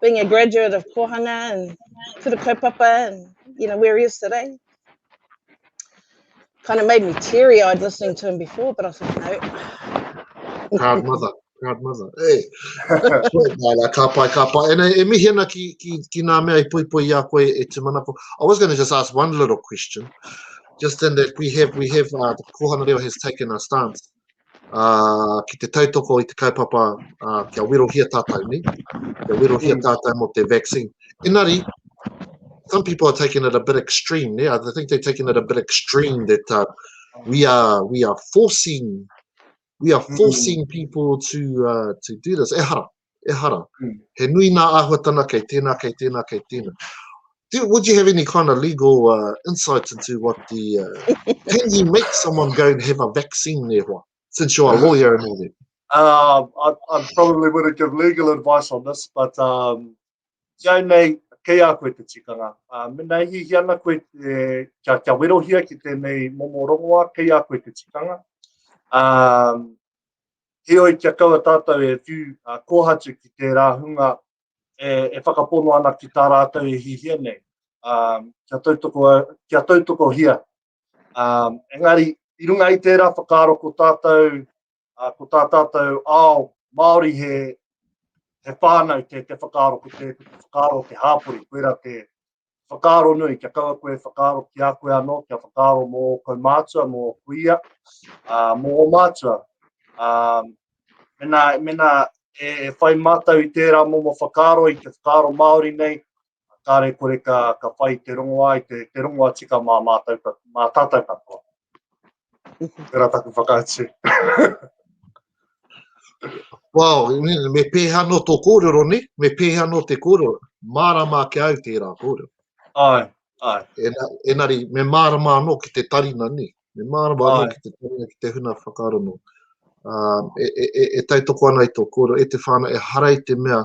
being a graduate of Kohanga and Kura Kaupapa and you know where he is today, kind of made me teary eyed listening to him before, but I thought, no. Proud mother. Proud mother. Hey. Nā, ka pai, ka pai. And e mihi ana ki, ki, ki nā mea i poi poi i a koe e te manako. I was going to just ask one little question. Just in that we have, we have, uh, the Kohana Reo has taken a stance ki te tautoko i te kaupapa kia werohia tātou nei, kia werohia tātou mō te vaccine. Engari, some people are taking it a bit extreme, yeah? I think they're taking it a bit extreme that uh, we are we are forcing we are mm. forcing mm. people to uh, to do this. Ehara, Ehara. Mm. He nui nā āhuatana kei tēnā, kei tēnā, kei tēnā. Do, would you have any kind of legal uh, insight into what the... Uh, can you make someone go and have a vaccine there, what, since you're a lawyer and all that? Uh, I, I probably wouldn't give legal advice on this, but um, jau nei, kei a koe te tikanga. Uh, mena i hihi ana koe te, kia, kia werohia ki tēnei momo rongoa, kei a koe te tikanga. Um, Heoi, kia kaua tātou e whiu kōhatu ki tērā hunga e whakapono ana ki tā rātou e hihia nei, kia tautokohia. Engari, i runga i tērā whakaaro ko tātou, ko tā tātou ao Māori he whānau te whakaaro, ko te whakaaro o te hāpori, koirā te Whakaaro nui, kia kaua koe e whakaaro ki a koe anō, kia whakaaro mō ō kaumātua, mō ō kuia, ā, mō ō mātua. Ā, mēnā, mēnā e whai mātou i tērā momo whakaaro, i te whakaaro Māori nei, kāre kore ka, ka whai te rongoā i te, te rongoa tika mā mātou, mā tātou katoa. Tera taku whakaatu. wow, me pēhea no tō kōrero, ne? Me pēhea no te kōrero. Mārama ake au tērā kōrero. Ai, ai. Ena, enari, me mārama anō ki te tarina, ne? Me mārama anō ki te tarina, ki te huna whakaaro no. Uh, e, e, e, e taitoko ana i tō kōrero, e te whāna, e harai te mea,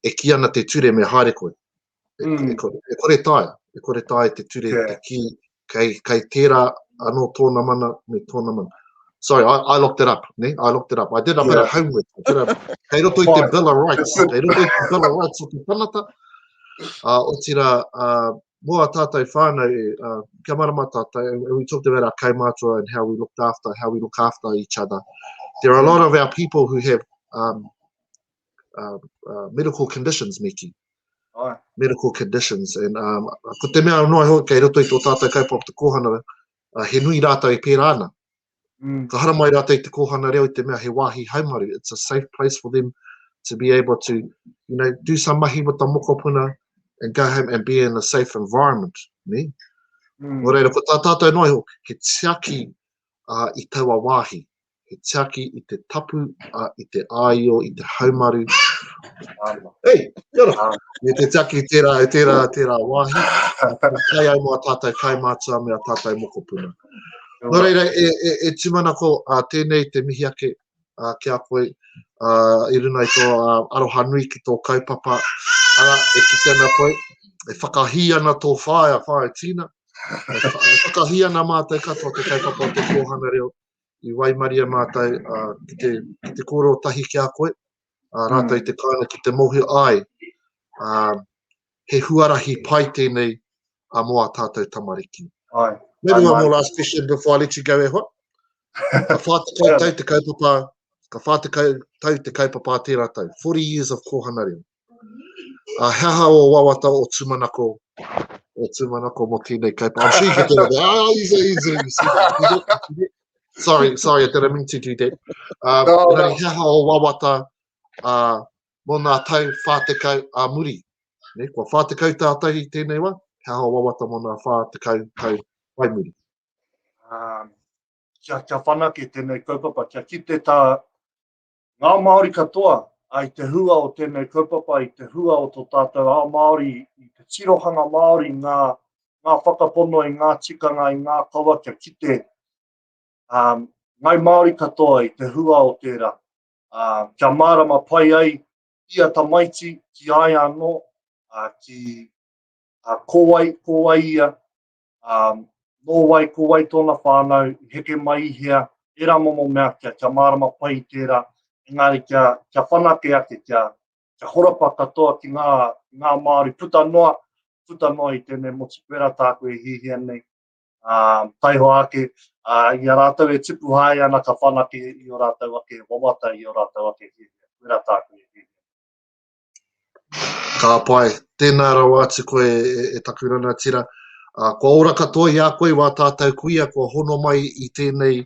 e ki ana te ture me haere koe. Mm. E, kore, e kore tae, e kore tae te ture yeah. te ki, kei, kei tērā anō tōna mana me tōna mana. Sorry, I, I looked it up, ne? I looked it up. I did a yeah. bit of homework. Kei roto i te Bill of Rights, kei roto i te Bill of Rights o te tanata. Uh, o tira, uh, mō a tātou whānau, uh, kia marama tātou, and we talked about our kaimātua and how we looked after, how we look after each other. There are a lot of our people who have um, uh, uh, medical conditions me ki. Ai. Medical conditions. And um, ko te mea noa hoi kei roto i tō tātou kaupapa te kōhana, uh, he nui rātou e pērā ana. Mm. Ka haramai rātou i te kōhana reo i te mea he wāhi haumaru. It's a safe place for them to be able to, you know, do some mahi with the mokopuna and go home and be in a safe environment. Ne? Mm. Mō reira, ko tā tātou noa, he tiaki uh, i taua wāhi. he tiaki i te tapu, a, i te āio, i te haumaru. Hei, kia ora! Me te tiaki i tērā, i tērā, tērā wāhi. Kai ai mō a tātou kai mātua me a tātou mokopuna. Nō reira, e, e, e tūmanako a tēnei te mihi ake a, ki a koe a, i runa i tō a, aroha nui ki tō kaupapa. Ara, e kite ana koe, e whakahī ana tō whaea, whaea Tina. E, e whakahī ana mātou katoa te kaupapa o te kōhana reo. i waimaria mātou ki te, ki te kōrero tahi ki a koe, a rātou i te kāinga ki te mōhio ai, a, he huarahi pai tēnei a mō a tātou tamariki. Ai. Mea runga mō last question before I let you go e hoa. Ka whātekau tau te kaupapa, ka whātekau tau te kaupapa tērā tau. 40 years of kōhana reo. Uh, he aha o wawata o tūmanako, o tūmanako mo tēnei kaipa. I'm sure you can get it. Ah, he's a, he's a, you see that. sorry, sorry, I didn't mean to do that. Uh, no, no. He aha o wawata uh, mo nā tau whātekau a muri. Ne, kua whātekau tātahi tēnei wa, he aha o wawata mo nā whātekau tau pai muri. Um, kia, kia whanake tēnei kaupapa, kia kite tā Ngā Māori katoa, ā, i te hua o tēnei kaupapa, i te hua o tō tātou ao Māori, i te tirohanga Māori, ngā, ngā whakapono i ngā tikanga, i ngā kawa kia kite, ā, Ngāi Māori katoa i te hua o tērā, ā, kia mārama pai ai ia tamaiti ki a ia anō, ā, ki, ā, ko wai, ko wai ia, Um, nō wai, ko wai tōna whānau, i heke mai i hea, ērā momo mea kia, kia mārama pai i tērā, engāri kia, kia whanake ake, kia, kia horapa katoa ki ngā, ngā Māori puta noa, puta noa i tēnei motu pera tāku e hihia nei. Uh, taiho ake, uh, i a rātou e tipu hae ana ka whanake i o rātou ake wawata, i o rātou ake hihia, pera tāku e hihia. Ka pai. Tēnā rawa atu koe e taku ranatira. Kua ora katoa i a koe wā tātou kuia kua hono mai i tēnei,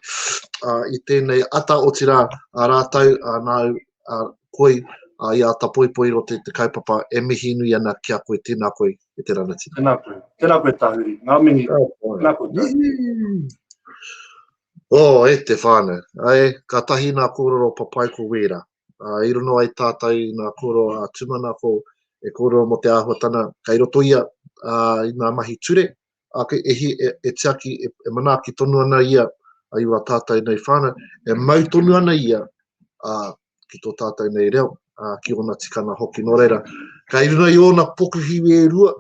i tēnei ata, otirā a rātou, a nāu, a koe, a i a ata poipoi rō te kaupapa, e mihi nui ana ki a koe. Tēnā koe e te ranatira. Tēnā koe. Tēnā koe Tahuri. Ngā mihi. Ka pai. Tēnā koe Tahuri. Oh, e te whānau. Ai, ka tahi nā kōrero papai ko wērā. uh, i rono ai tātou i ngā kōrero a uh, Tumanako e kōrero mō te āhuatana kei roto ia uh, i ngā mahi ture, a ke ehi e, e tiaki, e, e manaaki tonu ana ia a iwa tātou nei whāna, e mau tonu ana ia a, ki tō tātou nei reo, a, ki ōna tikana hoki. Nō reira, kei runa i ōna pokuhiwi e rua,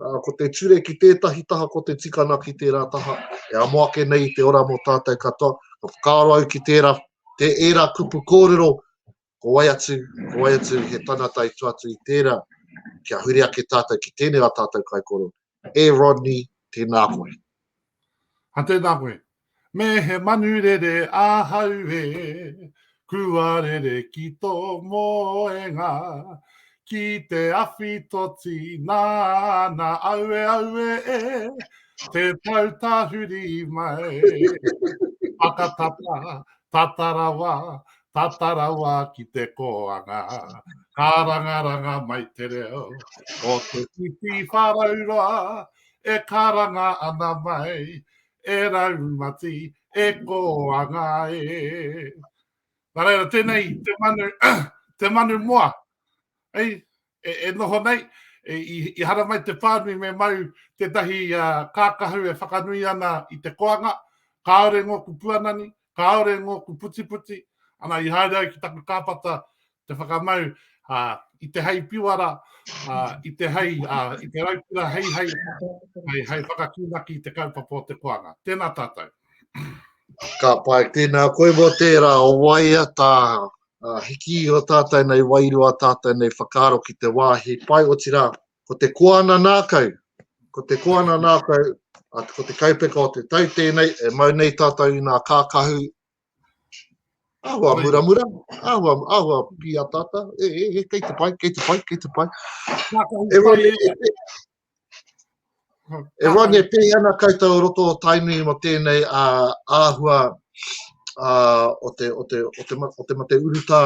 Ko te ture ki tētahi taha, ko te tikana ki tērā taha. E amo ake nei te ora mō tātou katoa. Ka whakaaro au ki tērā, te ērā kupu kōrero, ko wai atu, ko wai atu he tangata i tua atu i tērā, kia huri ake tātou ki tēnei a tātou kaikoro. E Rodney, tēnā koe. Ha tēnā koe. Me he manu rere ahau e, kua rere ki tō moenga, ki te awhi toti nāna aue aue e, te pau tahuri mai. Whakatata, tata rawa, tata rawa ki te kōanga, ka rangaranga mai te reo o te whiwhi whārauroa, E karanga ana mai, e raumati, e kōanga e. Nā reira, tēnei te manu, te manu moa, hei, e, e noho nei, e, i, i haramai te pānui me mau tētahi uh, kākahu e whakanui ana i te koanga, kāore ngōku puanani, Kāore ngōku putiputi, ana i haere ai ki taku kāpata te whakamau i te hei piwara, i te hei, i te raukura hei hei, hei, hei whakakīnaki i te kaupapa o te koanga. Tēnā tātou. Ka pai, tēnā koe mō tērā, o waia tā hiki o tātou nei, wairua tātou nei whakaaro ki te wāhi pai, otirā, Ko te koana nākau, ko te koana nākau, ko te kaupeka o te tau tēnei e mau nei tātou i nā kākahu āhua muramura, āhua, āhua pīataata, e, e, e, kei te pai, kei te pai, kei te pai. E wani, e, e, e wani, e pēhi ana koutou roto o Tainui mo tēnei a, āhua a, o, te, o, te, o, te, o te mate urutā,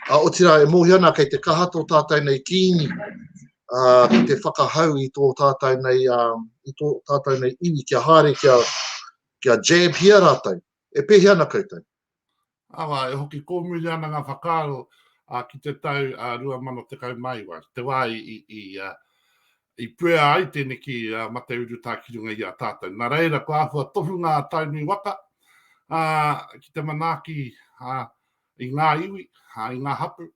Ā, otirā, e mōhio ana kei te kaha tō tātou nei Kīngi, ā, ki te whakahau i tō tātou nei, ā, i tō tātou nei iwi kia haere kia, kia jab-hia rātou. E pēhea ana koutou? Awa, e hoki kōmuria ana ngā whakaaro ā, ki te tau ā, 2019, te wā i, i, i, ā, i puea ai tēneki ā, mate urutā ki runga i a tātou. Nā reira, kua āhua tohu ngā Tainui waka ā, ki te manaaki ā, i ngā iwi, i ngā hapū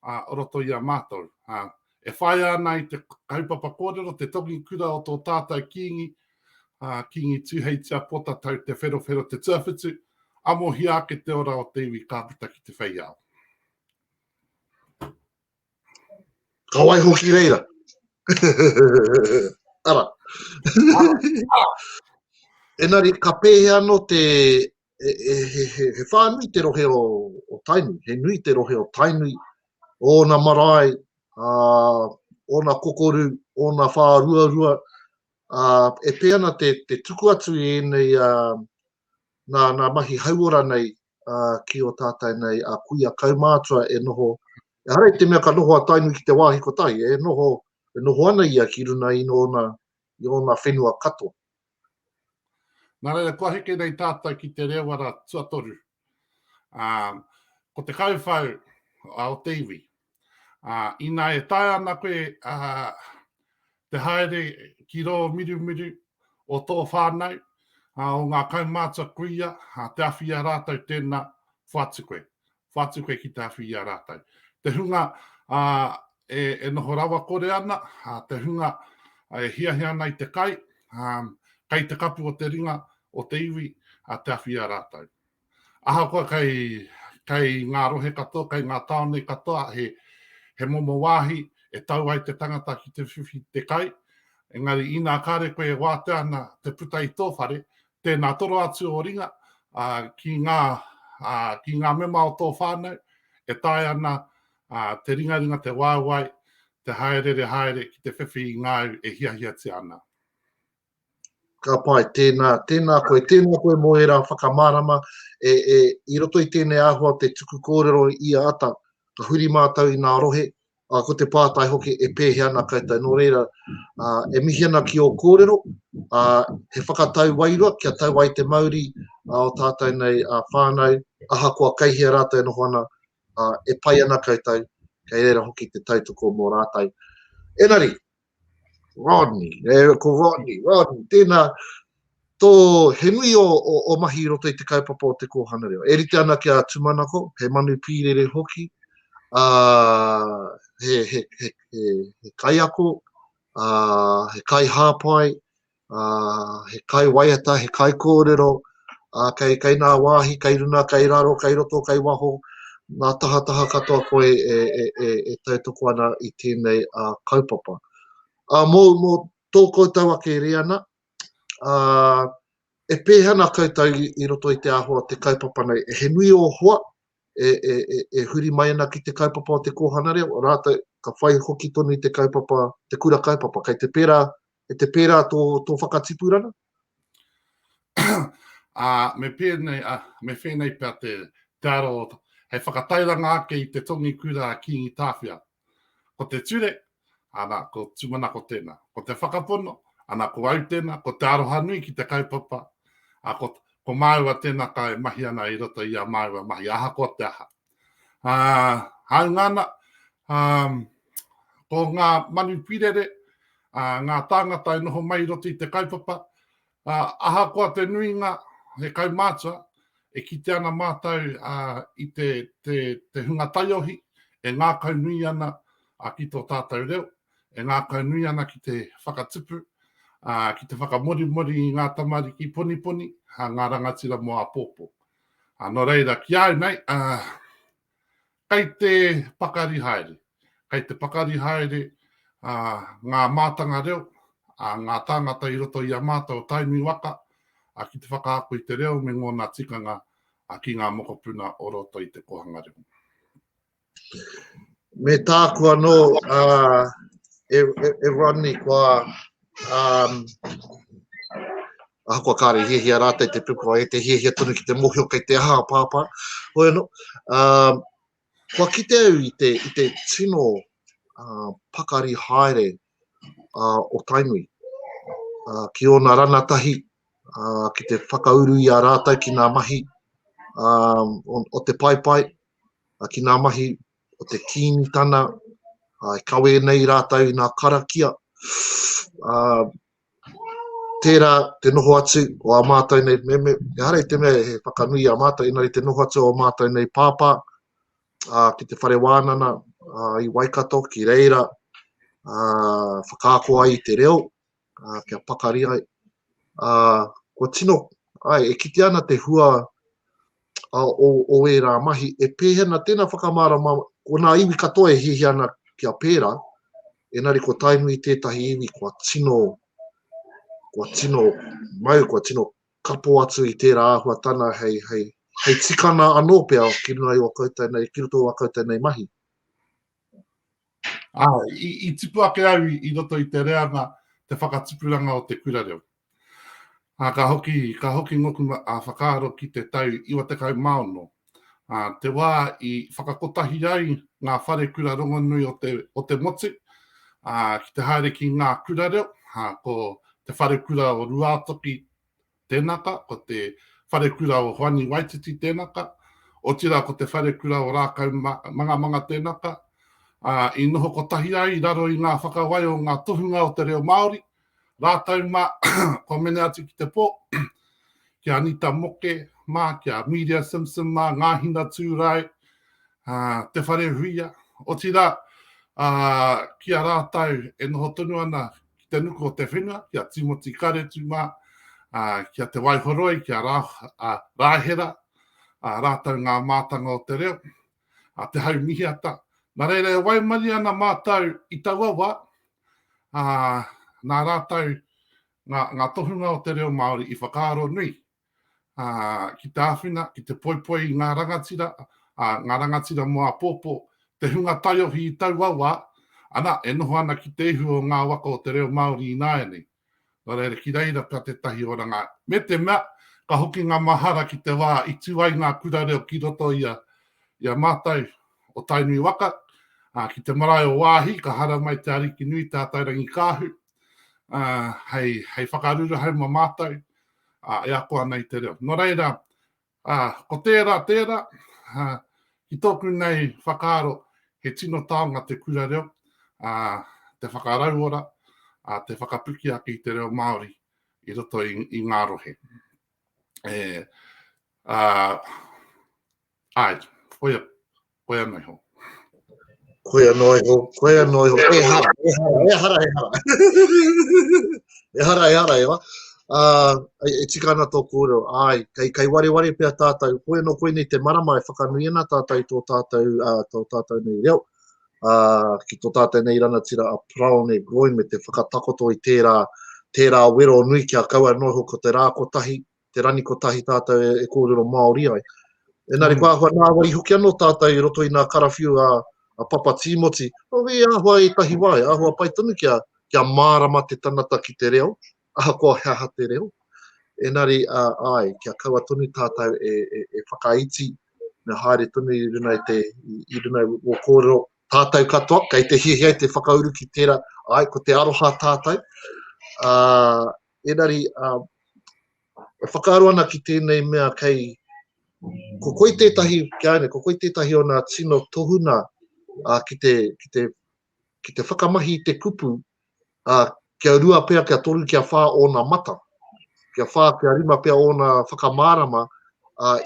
o roto i a mātou. E whāia ana i te kaupapa kōrero te tongi kura o tō tātou Kīngi, a Kīngi Tūheitia Pōtatau Te Wherowhero Te Tuawhitu, amohia ake te ora o te iwi ka puta ki te whei ao. Ka wai hoki reira. Ara. Ara. Ara. Enari, ka pēhea anō te he whānui te rohe o Tainui, he nui te rohe o Tainui, ōna marae, ōna kokoru, ōna whāruarua, e pē ana te tuku atu i ēnei nā mahi hauora nei ki ō tātou nei a kuia kaumātua e noho, ehara i te mea ka noho a Tainui ki te wāhi kotahi, e noho ana ia ki runga i ōna whenua katoa. Nā reira, kua heke nei tātou ki te reo ara tuatoru. Ā, ko te kauwhau o te iwi. Ā, ina e taea ana koe ā, te haere ki rō mirumiru o tō whānau, ā, o ngā kaumātua kuia, ā, te awhia rātou tēnā whatu koe. whatu koe ki te awhi i a rātou. Te hunga e, e noho rawakore ana, te hunga e hiahia ana i te kai, kei te kapu o te ringa, o te iwi, te awhi i a rātou. Ahakoa kei, kei ngā rohe katoa, kei ngā tāone katoa, he, he momo wāhi e tau ai te tangata ki te whiwhi te kai, engari inā kāre koe e wātea ana te puta i tō whare, Tēnā toro atu o ringa ki ngā, ki ngā mema o tō whānau e taea ana te ringaringa, te waewae, te hāereere haere ki te whiwhi i ngā au e hiahiatia ana. Ka pai, tēnā, tēnā koe, tēnā koe mō ērā whakamārama e, e, i roto i tēnei āhua o te tuku kōrero i a Ata, ka huri mātou i ngā rohe, Ā, ko te pātai hoki, e pēhea ana koutou? Nō reira, ā, e mihi ana ki ō kōrero, ā, he whakatau wairua kia tau ai te mauri ā ō tātou nei ā whānau, ahakoa kei hea rātou e noho ana, ā, e pai ana koutou, kei reira hoki te tautoko mō rātou. Engari, Rodney, e, ko Rodney, Rodney, tēnā, tō, he nui o, o, o mahi i roto i te kaupapa o te kōhanga reo. E rite ana ki a Tumanako, he manu pīrere hoki, a, he, he, he, he, he kaiako, a, he kai hāpai, he kai waiata, he kai kōrero, kei nā wāhi, kei runga, kei raro, kei roto, kei waho, ngā tahataha katoa koe e tautoko ana i tēnei kaupapa. Mō tō koutou ake rēana, e pēhea ana koutou i roto i te āhua o te kaupapa nei? He nui ō hoa e huri mai ana ki te kaupapa o te kōhanga reo, rātou ka whai hoki tonu i te kaupapa, te kura kaupapa, kei te pērā E te pērā tō, tō whakatipuranga? Ā, me pēnei, ā, me whēnei pea te, te aro o ta- hei whakatairanga ake i te tongi kura a Kīngi Tāwhia. Ko te ture, ana, ko Tūmanako tēnā. Ko te whakapono, ana, ko au tēnā, ko te aroha nui ki te kaupapa, ā, ko, ko māua tēnā kai mahi ana i roto i a māua mahi ahakoa te aha. Uh, haunga ana, um, ko ngā manu pirere, uh, ngā tāngata e noho mai roti te kaupapa, uh, ahakoa te nuinga, he kaumātua, e kite ana mātou uh, i te, te, te hunga taiohi e ngākau nui ana uh, ki tō tātou reo, e ngākau nui ana ki te whakatupu, uh, ki te whakamorimori i ngā tamariki poniponi, uh, ngā rangatira mō a pōpō. A no reira, ki au nei, kei te pakari haere, kei te pakari haere ngā mātanga reo, ngā tāngata i roto i a mātou o Tainui waka, ki te whakaako i te reo me ngōna tikanga ki ngā mokopuna o roto i te kōhanga reo. Me tāku anō, uh, e, e, e Rodney, kua, um, ahakoa kāre hiahia rātei te pukua e te hiahia tonu ki te mohio kei te aha pāpā, hoi anō, um, kua kite au i te, i te tino uh, pakari haere o Tainui ki ōna ranatahi ki te whakauru i a rātou ki ngā mahi o te paepae, ki ngā mahi o te Kīngitana, e kawē nei rātou i ngā karakia. tērā te noho atu o ā mātou nei meme, ehara i te mea he whakanui i a mātou, engari te noho atu o ā mātou nei pāpā ā, ki te whare wānana ā, i Waikato, ki reira ā, whakaako ai i te reo, ā, kia pakari ai. Ā, kua tino, ai, e kitea ana te hua o ērā mahi, e pēhena tēnā whakamārama, ko nā iwi katoa e hiahia ana kia pērā, engari ko Tainui tētahi iwi kua tino, kua tino mau, kua tino kapo atu i tērā āhuatana hei, hei, hei tikana anō pea ki runga i o koutou nei, ki roto i o koutou nei mahi. Ah, i, i tipu ake au i, i roto i te reanga te whakatipuranga o te kura reo. Ā, ka hoki, ka hoki ngoku a Whakaaro ki te tau iwa tekau mā ono, ā, te wā i whakakotahi ai ngā whare kura rongonui o te, o te motu, ā, ki te haere ki ngā kura reo, ā, ko Te Wharekura o Ruātoki tēnaka, ko Te Wharekura o Hoani Waititi tēnaka, otirā ko Te Wharekura o Rākau Mangamanga tēnaka, ā, i noho kotahi ai i raro i ngā whakawai o ngā tohunga o te reo Māori, Rātou mā, kua mene atu ki te pō, ki a Anita Moke mā, ki a Miria Simpson mā, Ngā Hinatūrae, Te Wharehuia, otirā, ki a rātou e noho tonu ana ki te nuku o te whenua, ki a Timoti Karetu mā, ki a Te Waihoroi, ki a Rāhera, rātou ngā mātanga o te reo. a Te Hau Mihiata. Nā reira e waimarie ana mātou i taua wā, ā, nā rātou ngā, ngā tohunga o te reo Māori i whakaaro nui ā, ki te āwhina, ki te poipoi i ngā rangatira, ā, ngā rangatira mō āpōpō, te hunga taiohi i taua wā, ana, e noho ana ki te ihu o ngā waka o te reo Māori ināianei. Nō reira, ki reira pea tētahi oranga. Me te mea, ka hoki ngā mahara ki te wā i tū ai ngā kura reo ki roto i a, i a mātou o Tainui waka, ā, ki te marae o Waahi, ka hara mai te Ariki nui, Te Atairangikaahu, ā, hei, hei whakaruruhau mō mātou, ā, e ako ana i te reo. Nō reira, Ā, ko tērā, tērā, ā, ki tōku nei whakaaro, he tino taonga te kura reo, ā, te whakarauora, ā, te whakapiki ake i te reo Māori i roto i, i ngā rohe. E, ā, āe, koia, Koe anō iho. Koe anō iho, koe anō iho, e hara, e hara, e hara, e hara. e hara, e hara, e wa. Uh, e, e tika ana tō kōrero, ai, kei, kei ware ware pia tātou, koe no koe nei te marama e whakanui ana tātou i tō tātou, uh, tō tātou nei reo, uh, ki tō tātou nei ranatira a Praone Groin me te whakatakoto i tērā, tērā wero nui kia kaua noho ko te rā kotahi, te rani kotahi tātou e kōrero Māori ai. Enari, ko ahua nāwai hoki anō tātou i roto i nā karawhiu a, a Papa Tīmoti, o i ahua i tahi wā, e ahua pai tonu kia, kia mārama te tangata ki te reo, ahakoa he aha te reo. Enari, a, ai, kia kaua tonu tātou e, e, e whakaiti, me haere tonu i runa i te, i, i runa i o kōrero, tātou katoa, kei te hiahia te whakauru ki tērā, ai, ko te aroha tātou, uh, Engari, e whakaaro ana ki tēnei mea kei, ko koi tētahi, ki a ianei, ko koi tētahi o nā tino tohunga ki te, ki te, ki te whakamahi i te kupu, kia rua pea, kia toru, kia whā ōna mata, kia whā, kia rima pea ōna whakamārama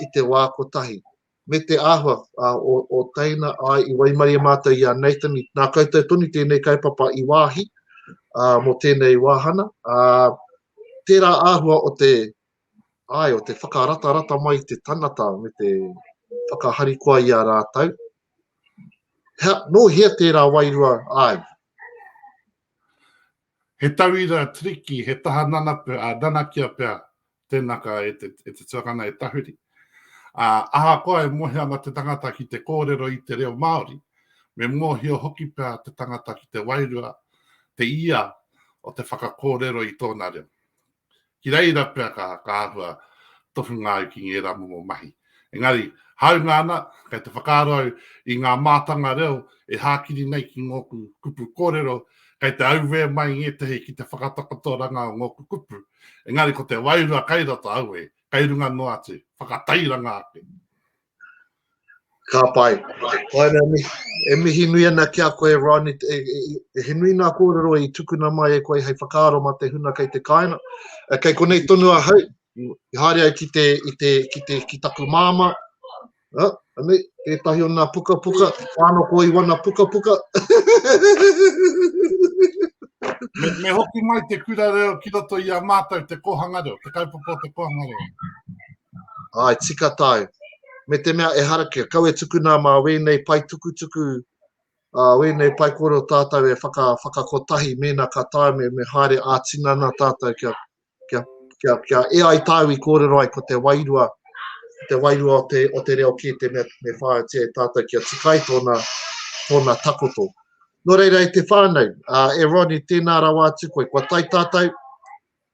i te wā kotahi. me te āhua o teina, āe, i waimarie mātou i a Nathan, nā koutou tonu tēnei kaupapa i wāhi mō tēnei wāhana, ā, tērā āhua o te, āe, o te whakaratarata mai i te tangata me te whakaharikoa i a rātou. Nō hea tērā wairua, āe? He tauira triki, he taha nanapu, ā, nanakia pea tēnā ka e te, e te tuakana e tahuri. Ā, ahakoa e mohe ana te tangata ki te kōrero i te reo Māori, me mōhio hoki pea te tangata ki te wairua, te ia o te whakakōrero i tōna reo. Ki reira pea ka, ka āhua tohunga ai ki ngērā momo mahi. Engari, hāunga ana, kei te whakaaro au i ngā mātanga reo e hākiri nei ki ngōku kupu kōrero, kei te auē mai ngētehi ki te whakatakotoranga o ngōku kupu, engari ko te wairua kei roto, auē, kei runga noa atu, whakatairanga ake. Ka pai. Koina mi, e mihi nui ana ki a koe, Ron, i, i, i, he nui nā kōrero i tukuna mai e koe hei whakaaro mā te huna kei te kāina. E, kei konei tonu a hau, i haere ai ki te, i te, ki te, ki taku māma, Ha, anei, tētahi o nā pukapuka, wāna ko i wana pukapuka. me, me hoki mai te kura reo ki roto i a mātou te kōhanga reo, te kaupapa o te kōhanga reo. Āe, tika tāu. Me te mea ehara kia kau e tukuna mā wēnei pae tukutuku, ā, wēnei pae kōrero tātou e whaka, whakakotahi mēnā ka taea me, me haere ā-tinana tātou kia, kia, kia, kia e ai tāu i kōrero ai ko te wairua, te wairua o te, o te reo kē te mea me whāitia e tātou kia tikai tōna, tōna takoto. Nō reira e te whānau, ā, e Ronnie, tēnā rawa atu koe. Kua tai tātou,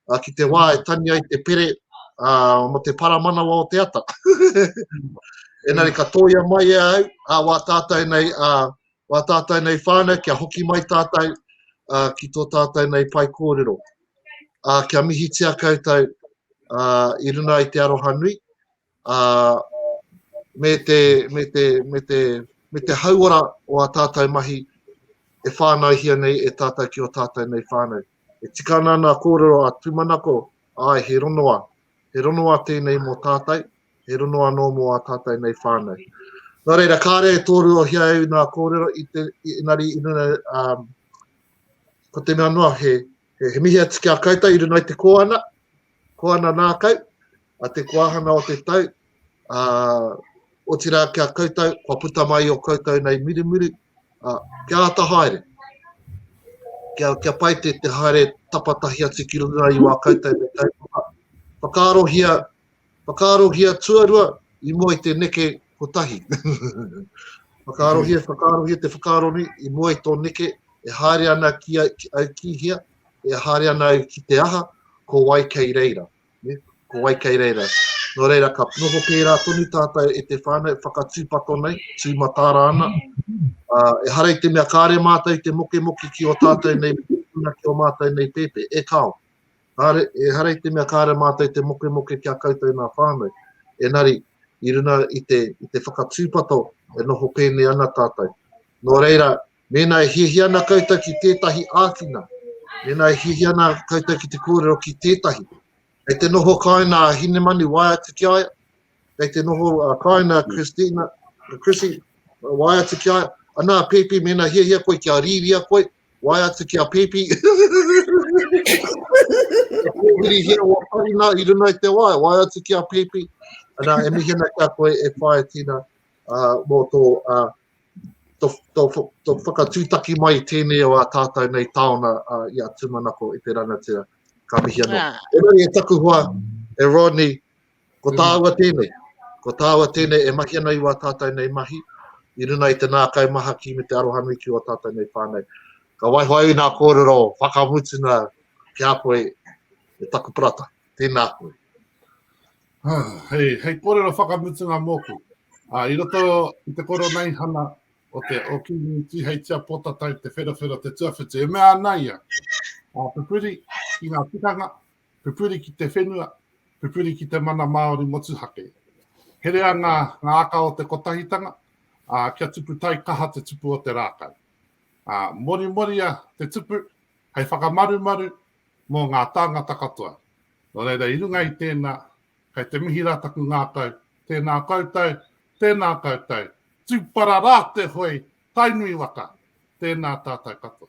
Ā, ki te wā e tani ai te pere, ā, mō te paramanawa o te ata. Engari ka tōia mai e au, ā, wā tātou nei, ā, wā tātou nei whānau, kia hoki mai tātou, ā, ki tō tātou nei pai kōrero. Ā, kia mihitia koutou, ā, i runga i te aroha nui, ā, me te, me te, me te, me te hauora o ā tātou mahi e whānaihia nei e tātou ki ō tātou nei whānau. E tika ana nā kōrero a Tūmanako, āe, he rongoā, he rongoā tēnei mō tātou, he rongoā anō mō ā tātou nei whānau. Nō reira, kāre e tōruohia au nā kōrero, i te, engari, i runga, ā, ko te mea noa, he, He mihi atu ki a koutou i runga i te Koana, Koana Nākau, a te Koahana o te Tau, a, otirā ki a koutou, kua puta mai o koutou nei mirimiri, a, kia ata haere, kia, kia pai te, te haere tapatahi atu ki runga i wā koutou me kaupapa. Whakaarohia Whakaarohia tuarua i mua i te neke kotahi. Whakaarohia, whakaarohia te whakaaro nei i mua i tō neke e haere ana ki a, ki, au ki hea, e haere ana au ki te aha, ko wai kei reira. Ne? Ko wai kei reira. Nō reira, ka noho pērā tonu tātou e te whānau whakatūpato nei, tūmatāra ana. Uh, e harei te mea kāre mātou te mokemoke ki o tātou nei, ki o mātou nei pēpē, e kāo. Kāre, ehara i te mea kāre mātou te mokemoke ki a koutou nā whānau, enari, i runa i te, i te whakatūpato e noho pēnei ana tātou. Nō reira, mēnā e hiahia ana koutou ki tētahi āwhina, mēnā e hiahia ana koutou ki te kōrero ki tētahi, kei te noho kāina a Hinemanu, wae atu ki a ia, kei te noho a kāina a Christina, Chrissy, wae atu ki a ia, anā, pēpi, mēnā hiahia koe kia rīria koe, Wae atu ki a Pipi. Pōhirihia wā Parina i runa i te wae, wae atu ki a Pipi. Anā, e mihi ana ki a koe, e whae tina uh, mō tō, uh, tō, tō, tō whakatūtaki mai tēnei o a tātou nei tāona uh, i a Tūmanako i te rangatira. Ka mihi ana. Ah. E, e taku hoa, e Rodney, Ko tāua tēnei, ko tāua tēnei e mahi ana i wā tātou nei mahi, i runa i te nākai mahaki me te arohanui ki wā tātou nei whānau. Ka waiho ai nā kōrero whakamutuna ki a koe e taku parata. Tēnā koe. Ah, hei, hei kōrero whakamutunga mōku. Ah, I roto i te koro nei hana o te o Kingi Tiheitia Pōtatai te wherawhera te tuawhitu. E mea ana ia, ah, pupuri ki ngā tikanga, Pupuri ki te whenua, pupuri ki te mana Māori motuhake. Herea ngā aka o te kotahitanga, ā, kia tupu taikaha te tupu o te rākau. Ā, morimoria te tupu hei whakamarumaru mō ngā tāngata katoa. Nō reira, i runga i tēnā, kei te mihi rā taku ngākau, tēnā koutou, tēnā koutou, tūpara rā te hoe, Tainui waka, tēnā tātou katoa.